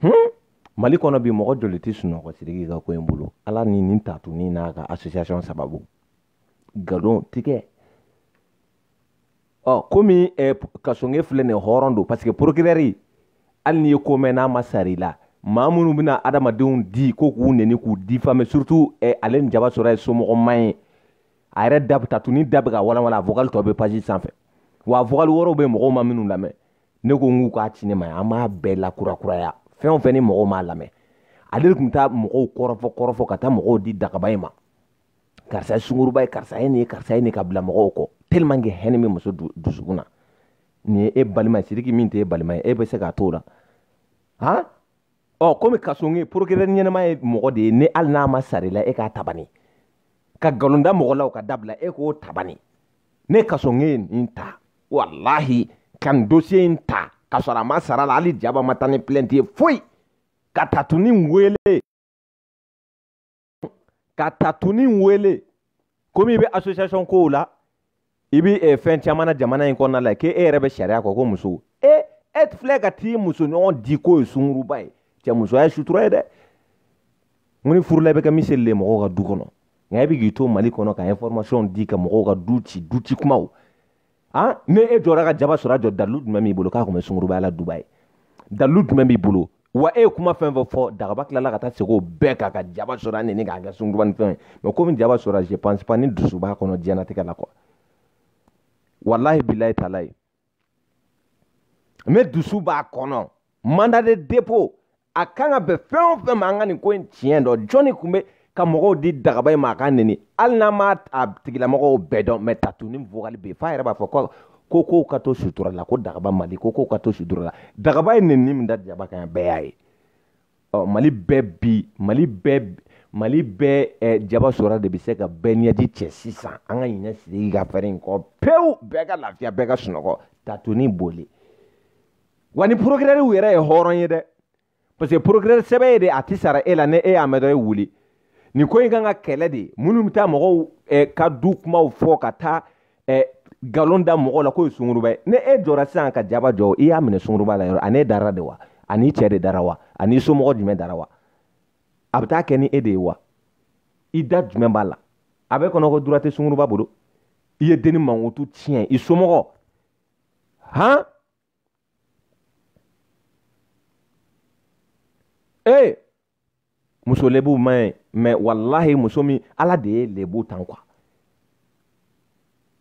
S1: hmm? mali kɔnɔ bi mɔgɔ joli tɛ sunɔgɔ sidiki ka ko in bolo ala ni nin tatuni n'a ka association sababu gadon tigɛ ɔ komi eh, kasonge filɛ nin hɔrɔn don parce que procureur hali n'i ye ko mɛn n'a ma sara i la maa minnu bɛna adamadenw di ko k'u neni k'u difame surtout eh, ale ni jaba sora ye somɔgɔ man ye a yɛrɛ da tatuni da bɛ ka walanwalan a vocal dɔ bɛ page sanfɛ wa vocal wɛrɛw bɛ mɔgɔw ma minnu lamɛn ne ko n k'u k'a ci ne ma an b'a bɛɛ lakurakuraya fɛn o fɛn ni mɔgɔw m'a lamɛn ale de tun bɛ taa mɔgɔw kɔrɔfɔ kɔrɔfɔ ka taa mɔgɔw di dagaba in ma karisa ye sunkuruba ye karisa ye nin ye karisa ye nin ka bila mɔgɔw kɔ tellement que haine bɛ muso dusukun na nin ye e balima ye sidiki min tɛ e balima ye e bɛ se k'a t'o la han ɔ komi kasonge procureur ɲɛnama ye mɔgɔ de ye ni hali n'a ma sara i la e k'a ta bani ka nkalon da mɔgɔ la o ka dabila e k'o ta bani ne kasonge nin ta walahi ka nin dosiye in ta ka sɔrɔ a ma sara la hali jaba ma taa ni pilɛnti ye foyi ka tatuni wele ka tatuni wele komi i bɛ association kow la i bɛ eh, fɛn caman na jamana in kɔnɔna la k'e e yɛrɛ bɛ sariya kɔ ko muso e eh, e filɛ ka t'i musoɲɔgɔn di k'o ye sunguruba ye cɛ musoya ye sutura ye dɛ n ko ni furu la i bɛ kɛ miseli ye mɔgɔw ka du kɔnɔ nka e bɛ k'i to mali kɔnɔ ka information di ka mɔgɔw ka du ci du ci kumaw an ni e jɔra ka jaba sora jɔ dalilu jumɛn b'i bolo k'a tun bɛ sunguruba la dubayi dalilu jumɛn b'i bolo wa e ye kuma fɛn o fɛn fɔ dagaba tilala ka taa segi o bɛɛ kan ka jaba sora neni k'a kɛ sunguruba ni fɛn ye mɛ komi jaba sora je pense pas ni dusu b'a kɔnɔ diɲɛnatigɛ la quoi walahi bilayi talayi ni dusu b'a kɔnɔ mandat de dépôt a kan ka bɛn fɛn o fɛn ma an ka nin ko in tiɲɛ dɔn jɔnni tun bɛ ka mɔgɔw di dagaba in ma a ka neni hali n'an m'a a tigilamɔgɔw bɛɛ dɔn mɛ tatuni vogali bɛ yen f'a yɛrɛ b'a fɔ ko ko kow ka to sutura la ko dagaba mali ko kow ka to sutura la dagaba ye neni min da jaba kan yan bɛɛ y'a ye ɔ mali bɛɛ bi mali bɛɛ mali bɛɛ eh, jaba sora de bɛ se ka bɛɛ ɲɛji cɛ sisan an ka ɲinɛ sidiki ka fɛɛrɛ in kɔ pewu bɛɛ ka lafiya bɛɛ ka sunɔgɔ tatuni bolo wa ni porokirɛriw yɛrɛ ye hɔrɔn ye dɛ parce que porokirɛri sɛbɛ ye de a tɛ sara e la ni e y'a mɛn dɔrɔn e wuli nin ko in kan k'a kɛlɛ de minnu bɛ taa mɔgɔw eh, ka du kumaw fɔ ka taa ɛ nkalon da mɔgɔ la k'o ye sunguruba ye ni e jɔra sisan ka jaba jɔ i y'a minɛ sunguruba la yɔrɔ ani e dara de wa ani i cɛ de dara wa ani i somɔgɔ jumɛn dara wa a bɛ taa kɛ ni e de ye wa i da jumɛn b'a la a b'e kɔnɔ ko droit tɛ sunguruba bolo i ye denni mankutu tiɲɛ i somɔgɔ han ee muso lebu man ɲi mɛ walahi muso min ala de ye lebu tan kuwa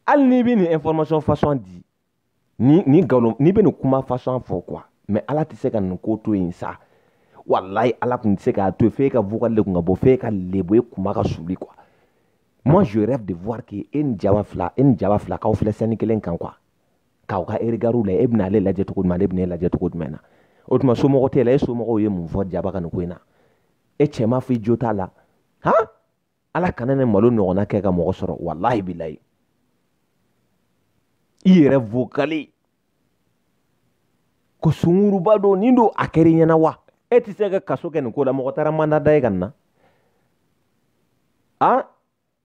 S1: hali n'i bɛ nin information fasɔn di ni ni nkalon n'i bɛ nin kuma fasɔn fɔ kuwa mɛ ala tɛ se ka nin ko to yen sa walayi ala tun tɛ se k'a to f'e ka vocal de kun ka bɔ f'e ka lebu e kun ka suuli kuwa moi je rêve de voir que e ni jaba fila e ni jaba fila k'aw filɛ scène kelen kan kuwa k'aw ka regard la e bɛna ale lajɛ cogo jumɛn ale bɛna e lajɛ cogo jumɛn na o tuma somɔgɔ t'e la e somɔgɔw ye mun fɔ jaba ka nin ko in na e cɛ m'a fɔ i jo t'a la han ala kana nin malo ɲɔgɔnna kɛ ka mɔgɔ sɔrɔ walahi bilayi i yɛrɛ vocal ko sunguruba don nin don a kɛra i ɲɛna wa e tɛ se ka kaso kɛ nin ko la mɔgɔ taara mandat da e kan nin na a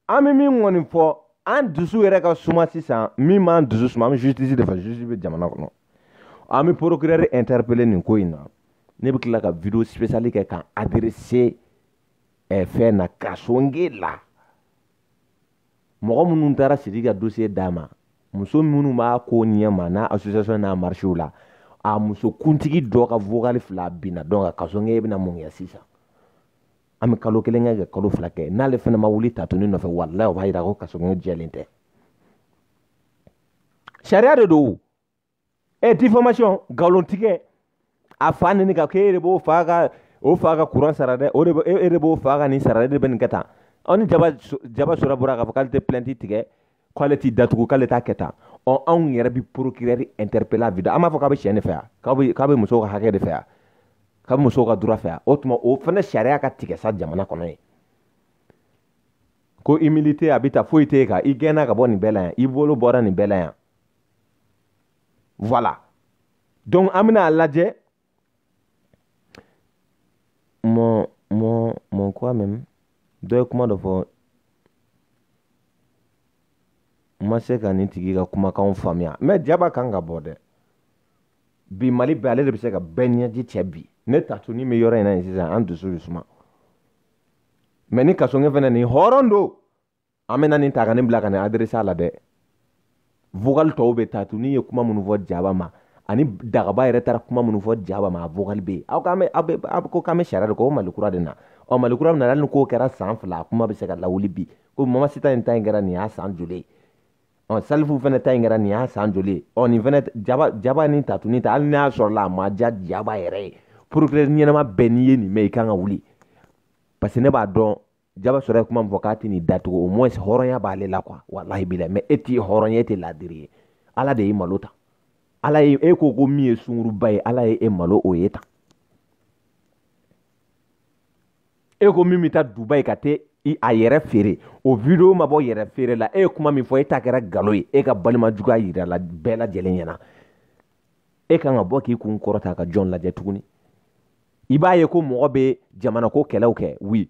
S1: an bɛ min kɔni fɔ an dusu yɛrɛ ka suma sisan min b'an dusu suma an bɛ justice de fɛ justice bɛ jamana kɔnɔ an bɛ procureur interpeller nin ko in na ne bɛ tila ka video spécial kɛ k'a adresser eh, fɛn na kasoge la mɔgɔ minnu taara sidi ka dossier d'a ma muso minnu b'a ko ɲɛ ma n'a association n'a marchew la a muso kuntigi dɔ ka vocal fila binna donc kasoge bɛna mun kɛ sisan an bɛ kalo kelen kɛ ka kalo fila kɛ n'ale fana ma wuli tatuni nɔfɛ walayi o b'a yira ko kasoge jɛlen tɛ sariya de don ɛ difamation nkalon tigɛ a fa neni ka k'e de b'o fa ka o fa ka kuran sara dɛ o de e de b'o fa ka nin sara e de bɛ nin kɛ tan ani jaba jaba sora bɔra k'a fɔ k'ale tɛ plainte tigɛ k'ale t'i datugu k'ale t'a kɛ tan ɔ anw yɛrɛ bi procureur interpeller bi an b'a fɔ k'a bɛ cɛ de fɛ yan k'a bɛ k'a bɛ musow ka hakɛ de fɛ yan k'a bɛ musow ka droit fɛ yan o tuma o fana sariya ka tigɛ sa jamana kɔnɔ yen ko immunité a bɛ ta foyi t'e kan i gɛnna ka bɔ nin bɛɛ la yan i bolo bɔra nin bɛɛ la yan voilà donc an bɛna a lajɛ mɔ mɔ mɔ quand même dɔ ye kuma dɔ fɔ n ma se ka nin tigi ka kumakanw faamuya mɛ jaba kan ka bɔ dɛ bi mali bɛɛ ale de bɛ se ka bɛɛ ɲɛji cɛ bi ni tatuni bɛ yɔrɔ in na yen sisan an dusu bɛ suma mɛ ni kasoge fana ni hɔrɔn don an bɛna nin ta ka nin bila ka nin adresse la dɛ vocal tɔw bɛ tatuni ye kuma minnu fɔ jaba ma ani dagaba yɛrɛ taara kuma minnu fɔ jaba ma a vocal bɛ yen aw k'an bɛ aw bɛ aw ko k'an bɛ sariya de kɔ o mali kura de na ɔ mali kura nana hali ni k'o kɛra san fila a kuma bɛ se ka lawuli bi ko mamasita in ta in kɛra nin y'a san joli ye ɔ salifu fana ta in kɛra nin y'a san joli ye ɔ nin fana jaba jaba ni tatuni ta hali n'a sɔrɔla a ma diya jaba yɛrɛ ye procureur ɲɛnama bɛɛ n'i ye nin mɛn i kan ka wuli parce que ne b'a dɔn jaba sora ye kuma min fɔ k'a tɛ nin datugu au moins hɔrɔnya b'ale la quoi walahi bilahi mais e tɛ hɔrɔn ye e tɛ laadiri ye ala de y'e malo tan ala ye e ko ko min ye sunguruba ye ala ye e malo o ye tan e ko min bɛ taa dubayi ka taa a yɛrɛ feere o video ma bɔ yɛrɛ feere la e ye kuma min fɔ e ta kɛra galo ye e ka balima juguya yirala bɛɛ lajɛlen ɲɛna e kan ka bɔ k'i kun kɔrɔta ka jɔn lajɛ tuguni i b'a ye ko mɔgɔ bɛ jamana ko kɛlɛw kɛ oui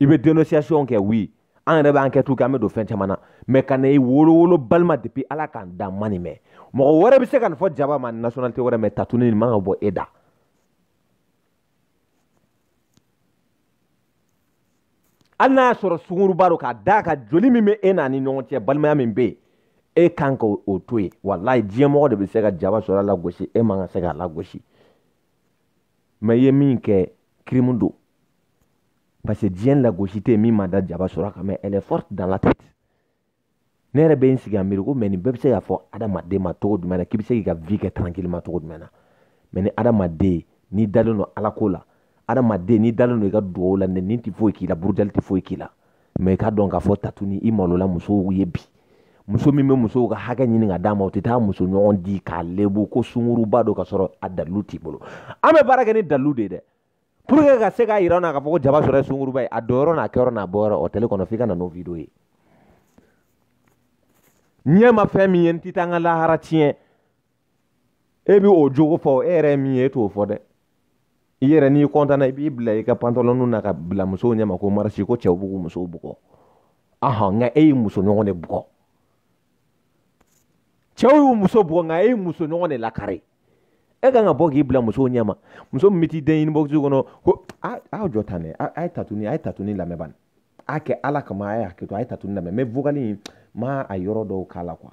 S1: i bɛ dénonciation kɛ oui an yɛrɛ bɛ enquête kɛ an bɛ don fɛn caman na mais ka na i wolowolo balima depuis ala ka n dan n ma nin mɛn mɔgɔ wɛrɛ bɛ se ka nin fɔ jaba ma nationalité wɛrɛ mais tatuni nin man ka bɔ e da hali n'a y'a sɔrɔ sunguruba don k'a d'a kan joli min bɛ e n'a ni ɲɔgɔn cɛ balimaya min bɛ yen e kan ka o to yen walayi diɲɛmɔgɔ de bɛ se ka jaba sora lagosi e man ka se k'a lagosi mais i ye min kɛ kirimu don parce que diɲɛ lagosi tɛ yen min ma da jaba sora kan mais elle est forte dans la tête ne yɛrɛ bɛ n sigi k'a miiri ko mais nin bɛɛ bɛ se k'a fɔ adamaden ma cogo jumɛn na k'i bɛ se k'i ka vie kɛ tranquillement cogo jumɛn na mais ni adamaden n'i dalen don ala ko la adamaden n'i dalen don i ka dugawu la nin tɛ foyi k'i la burujali tɛ foyi k'i la mais i k'a dɔn k'a fɔ tatuni i malola musow ye bi muso min bɛ musow ka hakɛ ɲini ka d'a ma o tɛ taa muso ɲɔgɔn di k'a lebu ko sunguruba don ka sɔrɔ a dalilu t'i bolo an bɛ baara kɛ ni dalilu de ye dɛ pour que ka se k'a yira an na k'a fɔ ko jaba sora ye sunguruba ye a donyɔrɔ n'a kɛyɔrɔ n'a bɔyɔrɔ hôtel kɔnɔ f'i ka na n'o video ye n ɲɛ ma fɛn min ye n tɛ taa n ka lahara tiɲɛ e bɛ o jogo fɔ e yɛrɛ min ye e t'o fɔ dɛ i yɛrɛ n'i kɔntana i b'i bila i ka pantalɔnw na ka bila musow ɲɛma ko marisi ko cɛw b'u musow bugɔ ahan nka e y'i muso ɲɔgɔn de bugɔ cɛw y'u muso bugɔ nka e y'i muso ɲɔgɔn de lakari e kan ka bɔ k'i bila musow ɲɛma muso min bɛ t'i den ɲini bɔkisi kɔnɔ ko a aw jɔ tan dɛ a ye tatuni a ye tatuni lamɛn bani a kɛ ala kama a ye hakɛ to a ye tatuni lamɛn mais vocal in ma a yɔrɔ dɔw k'a la quoi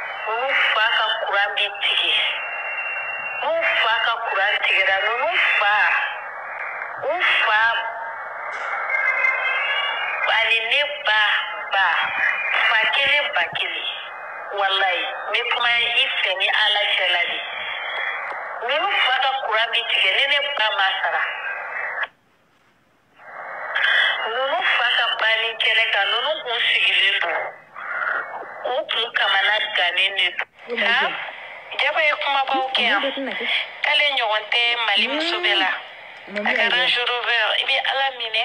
S1: ninnu fa ka kuran bi tigɛ n'u fa ka kuran tigɛra ninnu fa u fa ani ne ba ba fa kelen ba kelen walayi n bɛ kuma i fɛ ni ala cɛla de ninnu fa ka kuran bi tigɛ ne ne ba ma sara ninnu fa ka banni kɛnɛ kan ninnu kun sigilen don u kun kamanagannen de don nka jaba ye kumabaw kɛ yan k'ale ɲɔgɔn tɛ mali muso bɛɛ la a ka range rover i bɛ ala minɛ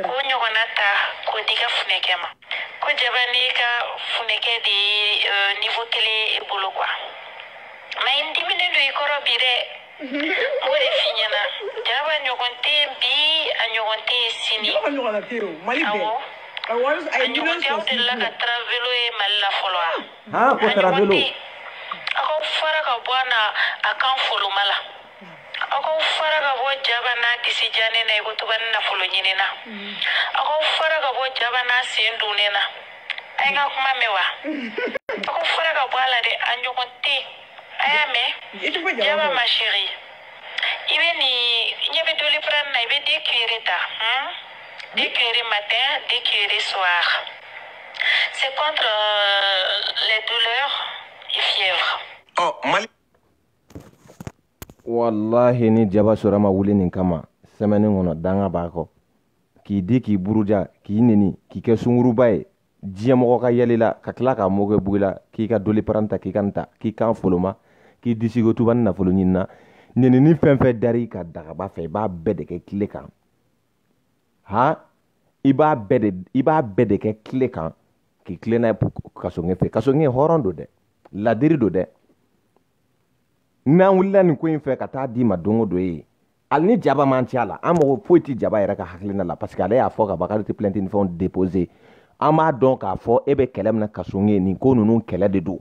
S1: k'o ɲɔgɔnna ta k'o d'i ka funɛkɛ ma ko jaba n'i ka funɛkɛ de ye niveau kelen i bolo quoi mais i diminnen don i kɔrɔ bi dɛ o de f'i ɲɛna jaba ɲɔgɔn tɛ yen bi a ɲɔgɔn tɛ yen sini Jɔgɔ ɲɔgɔnna tɛ yen o, Mali bɛɛ. awɔ A wari- a a ye ɲɔgɔn miliyɔn tɛ aw sɔrɔ sini delila ka bilen. travelo ye mali la fɔlɔ wa Han, ko A ɲɔgɔn travelo. tɛ yen. aw k'aw fara ka bɔ a na a kan foloma la aw k'aw fara ka bɔ jaba n'a disi jannen na i ko tubanin nafolo ɲinina aw k'aw fara ka bɔ jaba n'a sen dunnen na a ye n ka kuma mɛn wa aw k'aw fara ka bɔ a la dɛ a ɲɔgɔn tɛ yen a y'a mɛn i tɔgɔ jaba jaba fɔ ma chérie i bɛ nin i ɲɛ bɛ doliprane na i bɛ deux cuillerées ta hmm? deux cuillerées matin deux cuillerées soir c'est contre euh, les douleurs et fièvre ɔ mali walahi ni jaba sɔrɔ ma wuli nin kama semaine kɔnɔ danga b'a kɔ k'i di k'i buruja k'i neni k'i kɛ sunguruba ye diɲɛmɔgɔ ka yɛlɛ i la ka tila k'a mɔkɛ bugi la k'i ka doliprane ta k'i kan ta k'i kan foloma k'i disi ko tubanin nafolo ɲinina ɲinini fɛn fɛn dari ka dagaba fɛ i b'a bɛɛ de kɛ tile kan han i b'a bɛɛ de i b'a bɛɛ de kɛ tile kan k'i tilen n'a ye kasoŋe fɛ kasoŋe hɔrɔn don dɛ ladiri don dɛ n'an wulila nin ko in fɛ ka taa d'i ma don o don ye hali ni jaba man ci a la an mago foyi tɛ jaba yɛrɛ ka hakilina la parce que ale y'a fɔ ka bakari tɛ plainte ni fɛnw déposer an b'a dɔn k'a fɔ e bɛ kɛlɛ min na kasonge nin ko ninnu kɛlɛ de don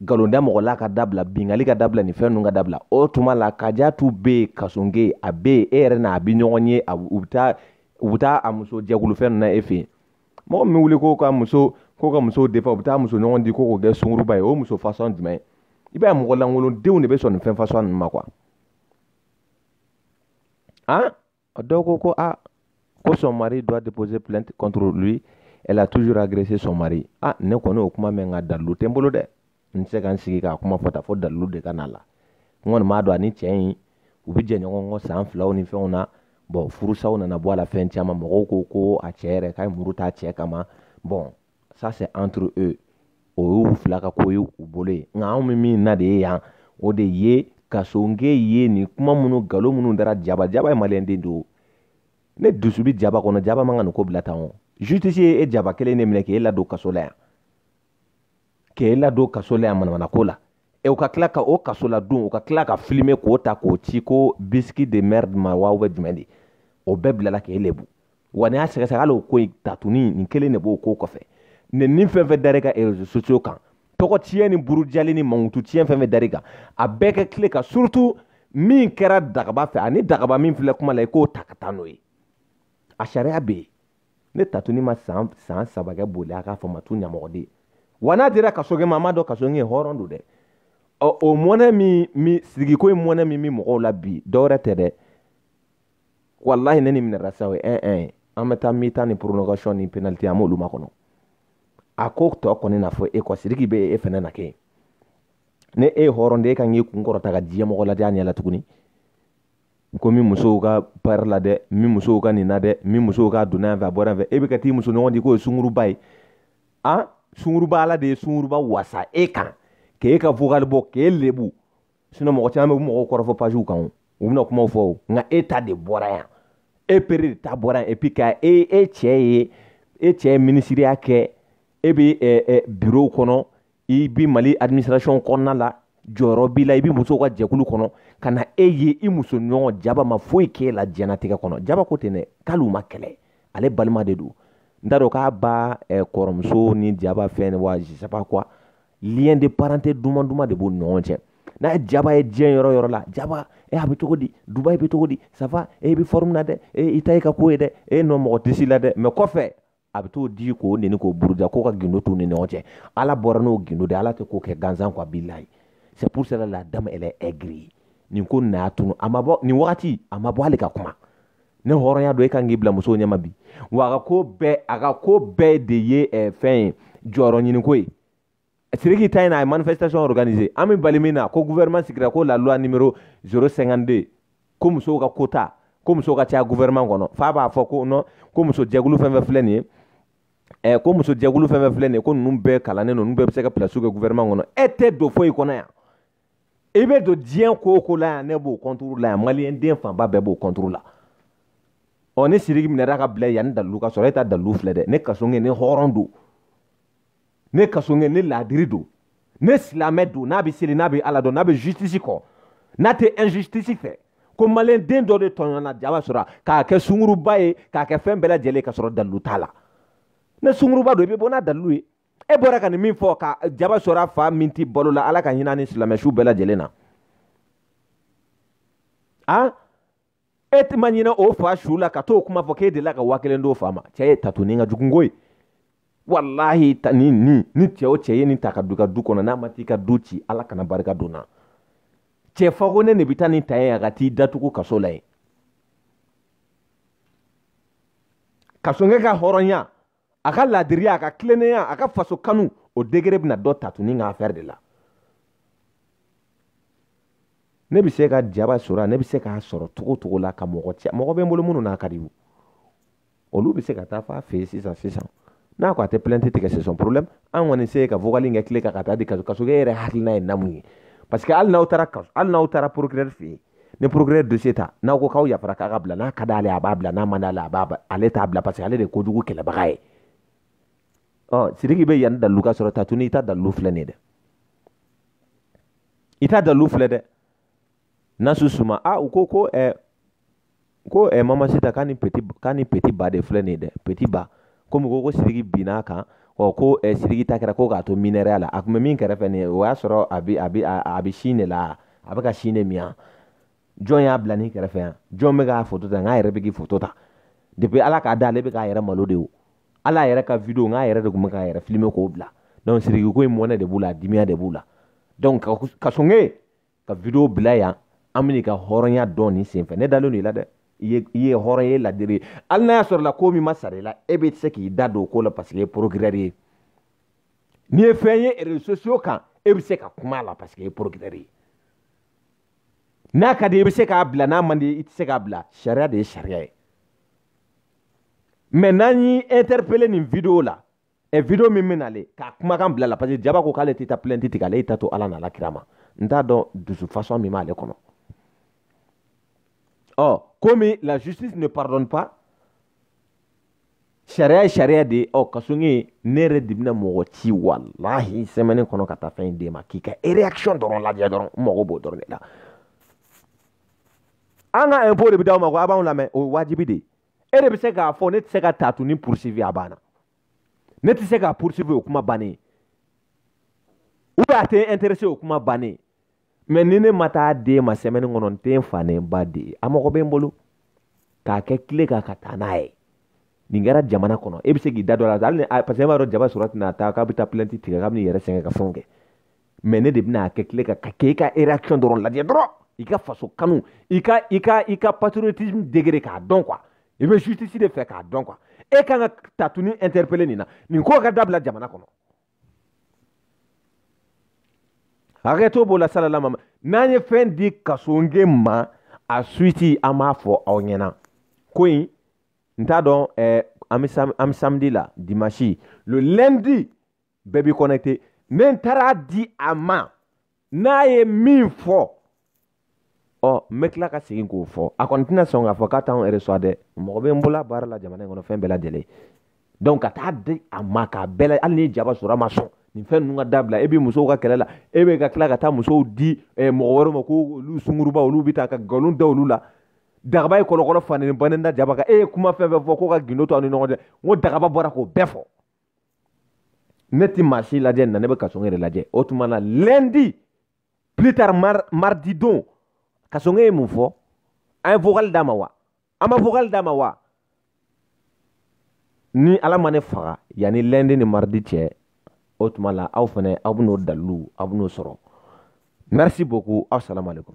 S1: nkalonda mɔgɔ la ka dabila binkanni ka dabila nin fɛn ninnu ka dabila o tuma la kajatu bɛ yen kasonge a bɛ yen e yɛrɛ n'a bɛ ɲɔgɔn ye a u bɛ taa u bɛ taa a muso jɛkulufɛn ninnu na e fɛ yen mɔgɔ min wuli ko ka muso ko ka muso défendre u bɛ taa muso ɲɔgɔn di ko k'o kɛ sunguruba ye o muso fasɔn jumɛn i b'a ye mɔgɔ lankolondenw de bɛ sɔn nin fɛn fasɔn ninnu ma quoi Hein? Dɔ ko ko ko son mari doit déposer plainte contre lui. Elle a toujours agressé son mari. Ah, ne kɔni y'o kuma mɛn nka dalilu tɛ n bolo dɛ n tɛ se ka n sigi k'a kuma fɔ tan fo dalilu de ka na la n kɔni m'a dɔn ani cɛ in u bɛ jɛn ɲɔgɔn kɔ san filaw ni fɛnw na bɔn furusaw nana bɔ a la fɛn caman mɔgɔw ko ko a cɛ yɛrɛ k'a ye muru t'a cɛ kama bɔn ça c'est entre eux o y'u fila ka ko ye u bolo yen nka anw bɛ min na de ye yan o de ye kasonge ye nin kuma minnu nkalon minnu dara jaba jaba ye maliyɛnden don ne dusu bɛ jaba kɔnɔ jaba man kan ka nin ko bila tan o justice ye e jaba kelen de minɛ k'e ladon kaso la yan k'e ladon kaso la yan manamana ko la e u ka tila ka o kaso la don u ka tila ka filime k'o ta k'o ci ko bisiki de merde ma wa u bɛ jumɛn de o bɛɛ bilala k'e lebu wa n'a sɛgɛsɛgɛ hali o ko in tatuni nin kelen de b'o ko kɔfɛ nɛni fɛn fɛn dar'i kan réseaux sociaux kan tɔgɔ tiɲɛ ni burujali ni mankutu tiɲɛ fɛn fɛn dar'i kan a bɛɛ ka tile ka surtout min kɛra dagaba fɛ ani dagaba min filɛ kuma la i k'o ta ka taa n'o ye a sariya bɛ yen ni tatuni ma san san saba kɛ boli a k'a fɔ ma tu ɲamɔgɔden wa n'a dira kasonkɛ ma a m'a dɔn kasonkɛ hɔrɔn don dɛ ɔ o mɔnɛ min min sigiko ye mɔnɛ min bɛ mɔgɔw la bi dɔwɛrɛ tɛ dɛ walahi ni nin minɛra sa o ye ɛn ɛn ye an bɛ taa mi-temps ni prolongation ni penalty an m'olu makɔnɔ a ko tɔ kɔni na fɔ e kɔ siriki bɛ e fɛnɛ na kɛ ni e ye hɔrɔn de e kan k'i kun kɔrɔta ka diɲɛ mɔgɔ lajɛ a ɲɛ la tuguni ko min musow ka pari la dɛ min musow ka nin na dɛ min musow ka donna yan fɛ a bɔra yan fɛ e bɛ ka t'i muso ɲɔgɔn di k'o ye sunguruba ye a sunguruba ala de ye sunguruba wasa e kan k'e ka vocal bɔ k'e lebu sinon mɔgɔ caman bɛ mɔgɔw kɔrɔfɔ paziw kan o u bɛna kumaw fɔ o nka e ta de bɔra yan e pere de ta bɔra yan et puis ka e e cɛ ye e cɛ ye minisiriya kɛ e bɛ ɛ ɛ birow kɔnɔ i bɛ mali administration kɔnɔna la jɔyɔrɔ b'i la i bɛ musow ka jɛkulu kɔnɔ ka na e ye i muso ɲɔgɔn jaba ma foyi k'e la diɲɛnatigɛ kɔnɔ jaba ko ten dɛ k'ale u ma kɛlɛ ale balima de don n t'a dɔn k'a ba kɔrɔmuso ni jaba fɛn wa je sais pas quoi lien de parenté duman duman de b'u ni ɲɔgɔn cɛ n'a jaba ye diɲɛ yɔrɔ yɔrɔ la jaba e a bɛ cogo di dubai bɛ cogo di ça va e bɛ forme na dɛ e i ta ye ka ko ye dɛ e n'o mɔgɔ tɛ si la dɛ mɛ kɔfɛ a bɛ t'o di k'o neni k'o buruja k'o ka gindo t'u ni ɲɔgɔn cɛ ala bɔra n'o gindo de ala tɛ ko kɛ gansan kɔ a b'i layi c'est pour cela la dame elle est aigrie nin ko nin y'a tunu a ma bɔ nin wagati a ma bɔ hali ka kuma ni hɔrɔnya don e kan k'i bila musow ɲɛma bi wa a ka ko bɛɛ a ka ko bɛɛ de ye eh, fɛn ye jɔyɔrɔ ɲiniko ye siriki ta in na a ye manifestation organiser an bɛ bali min na ko gouvernement sigira ko la loi numéro 052 ko musow ka quota ko musow ka caya gouvernement kɔnɔ f'a b'a fɔ ko non ko muso jɛkulu fɛn fɛn filɛ nin ye eh, ko muso jɛkulu fɛn fɛn filɛ nin ye ko ninnu bɛɛ kalannen don ninnu bɛɛ bɛ se ka pilasiw kɛ gouvernement kɔnɔ e tɛ don foyi kɔnɔ yan i bɛ don diɲɛ ko o ko la yan ne b'o kɔnturu la yan maliyɛn den fanba bɛɛ b'o kɔnturu la ɔ ni siriki minɛra ka bila yan ni dalilu ka sɔrɔ e ta dalilu filɛ dɛ ni kasonkɛ nin hɔrɔn don ni kasonkɛ nin laadiri don ni silamɛ don n'a bɛ seli n'a bɛ ala dɔn n'a bɛ justice kɔ n'a tɛ injustice fɛ ko maliyɛn den dɔ de tɔɲɔna jaba sɔrɔ k'a kɛ sunguruba ye k'a kɛ fɛn bɛɛ lajɛlen ka sɔrɔ dalilu t'a la ni sunguruba don i bɛ bɔ n'a dalilu ye e bɔra ka nin min fɔ ka jaba sora fa min tɛ balo la ala ka hinɛ ni silamɛ su bɛɛ lajɛlen na a e tɛ ma ɲinɛ o fa su la ka t'o kuma fɔ k'e delila ka waa kelen d'o fa ma cɛ ye tatuni ka jugunko ye walahi ta ni ni ni cɛ o cɛ ye nin ta ka du ka du kɔnɔ n'a ma t'i ka du ci ala kana barika don n na cɛ fako ne de bɛ taa nin ta ye a ka t'i datugu kaso la yen kasoge ka hɔrɔnya a ka laadiriya a ka tilennenya a ka faso kanu o degré bɛna dɔn tatuni ka afɛri de la ne bɛ se ka jaba sɔrɔ ne bɛ se k'a sɔrɔ cogo cogo la ka mɔgɔ ci mɔgɔ bɛ n bolo minnu n'a ka di u olu bɛ se ka taa f'a fɛ yen sisan sisan n'a ko a tɛ plainte tigɛ c'est son problème an kɔni se ka vocal in kɛ clé kan ka taa di kaso kasoge yɛrɛ hakilina ye namu ye parce que hali n'aw taara kaso hali n'aw taara procureur fɛ yen ni procureur dossier ta n'aw ko k'aw yafara k'a ka bila n'a ka d'ale ye a b'a bila n'a man d'ale a b'a ale t'a bila parce que ale de ye kojugu kɛlɛbaga ye ɔ siriki bɛ yanni dalilu ka sɔrɔ tatuni i ta dalilu filɛ nin ye dɛ i ta dalilu filɛ dɛ nasu suma a u ko ko ɛɛ ko ɛ mamasita k'a ni peti k'a ni peti ba de filɛ nin ye dɛ peti ba komi ko ko siriki binna a kan ɔ ko ɛ siriki ta kɛra ko k'a to minɛrɛya la a tun bɛ min kɛrɛfɛ nin ye o y'a sɔrɔ a bi a bi a bi sin de la a bɛ ka sin de min yan jɔn y'a bila nin kɛrɛfɛ yan jɔn bɛ k'a foto ta n k'a yɛrɛ bɛ k'i foto ta depuis ala k'a da ale bɛ k'a yɛrɛ malo de o ale yɛrɛ ka video n k'a yɛrɛ de tun bɛ k'a yɛrɛ filime k'o bila donc siriki ko in mɔnɛ de b'u la a dimiya de b'u la donc kasoge ka video bila yan an bɛna i ka hɔrɔnya dɔn nin senfɛ ne dalen don i la dɛ i ye i ye hɔrɔn ye laadiri ye hali n'a y'a sɔrɔ la ko min ma sara i la e bɛ se k'i da don o ko la paseke e ye porokirɛri ye n'i ye fɛn ye réseaux sociaux kan e bɛ se ka kuma a la paseke e ye porokirɛri ye n'a ka di i bɛ se k'a bila n'a man di i tɛ se k'a bila sariya de ye sariya ye mais n'an y'i interpellé nin video la ɛ video min bɛ nale k'a kumakan bila la parce que jaba ko k'ale tɛ taa plainte tigɛ ale y'i ta to ala n'a la kira ma n t'a dɔn dusu fasɔn min b'ale kɔnɔ ɔ komi la justice ne pardonne pas sariya ye sariya de ye ɔ kasoge ne yɛrɛ de bɛna mɔgɔ ci walahi sɛmɛni kɔnɔ ka taa fɛn in d'e ma k'i ka réaction dɔrɔn lajɛ dɔrɔn n mago b'o dɔrɔn de la an ka impôt de bɛ d'aw ma ko a b'anw lamɛn o ye wajibi de ye e de bɛ se k'a fɔ ne tɛ se ka tatuni poursuivi a banna ne tɛ se k'a poursuivi o kuma bannen ou bien a tɛ intéressé o kuma bannen mais ni ne ma taa d'e ma semaine kɔnɔ n tɛ n fa ni n ba den ye a mɔgɔ bɛ n bolo k'a kɛ clé kan ka taa n'a ye nin kɛra jamana kɔnɔ e bɛ se k'i da don a la hali ni parce que e b'a dɔn jaba sora tɛna taa k'a bɛ taa plainte tigɛ k'a bɛ n'i yɛrɛ sɛgɛn ka fɛnw kɛ mais ne de bɛna a kɛ tile ka ka k'e ka réaction dɔrɔn lajɛ dɔrɔn i ka faso kanu i ka i ka i ka patriotisme degré k'a dɔn quoi i bɛ justice de fɛ k'a dɔn quoi e kan ka tatuni interpeller nin na nin ko ka dabila jamana kɔnɔ hakɛto b'o la salalama n'an ye fɛn di kasoge ma a suite an b'a fɔ aw ɲɛna ko in n t'a dɔn eh, an bɛ samedi la dimanche le lundi bɛɛ b'i connecté ne n taara di a ma n'a ye min fɔ ɔ n bɛ tila ka segin k'o fɔ a kɔni tɛna sɔn k'a fɔ k'a t'anw yɛrɛ sɔn dɛ mɔgɔ bɛ n bolo a baara la jamana in kɔnɔ fɛn bɛɛ lajɛlen donc ka taa di a ma k'a bɛɛ la hali ni jaba sora ma sɔn nin fɛn ninnu ka dabila e bɛ musow ka kɛlɛ la e bɛ ka tila ka taa musow di eh, mɔgɔ wɛrɛw ma ko olu sunguruba olu bɛ taa ka nkalon da olu la dagaba ye kɔlɔkɔlɔ faneni bannen da jaba kan e ye kuma fɛn fɛn fɔ ko ka gindo to aw ni ɲɔgɔn cɛ n ko dagaba bɔra k'o bɛɛ fɔ ne ti maa si lajɛ na ne bɛ kasoge yɛrɛ lajɛ o tuma na lundi plus tard mar mardi don kasoge ye mun fɔ an ye vocal d'a ma wa an ma vocal d'a ma wa ni ala ma ne faga yanni lundi ni mardi cɛ o tuma la aw fana aw bɛn'o dalilu aw bɛn'o sɔrɔ merci beaucoup aw salamu alaikum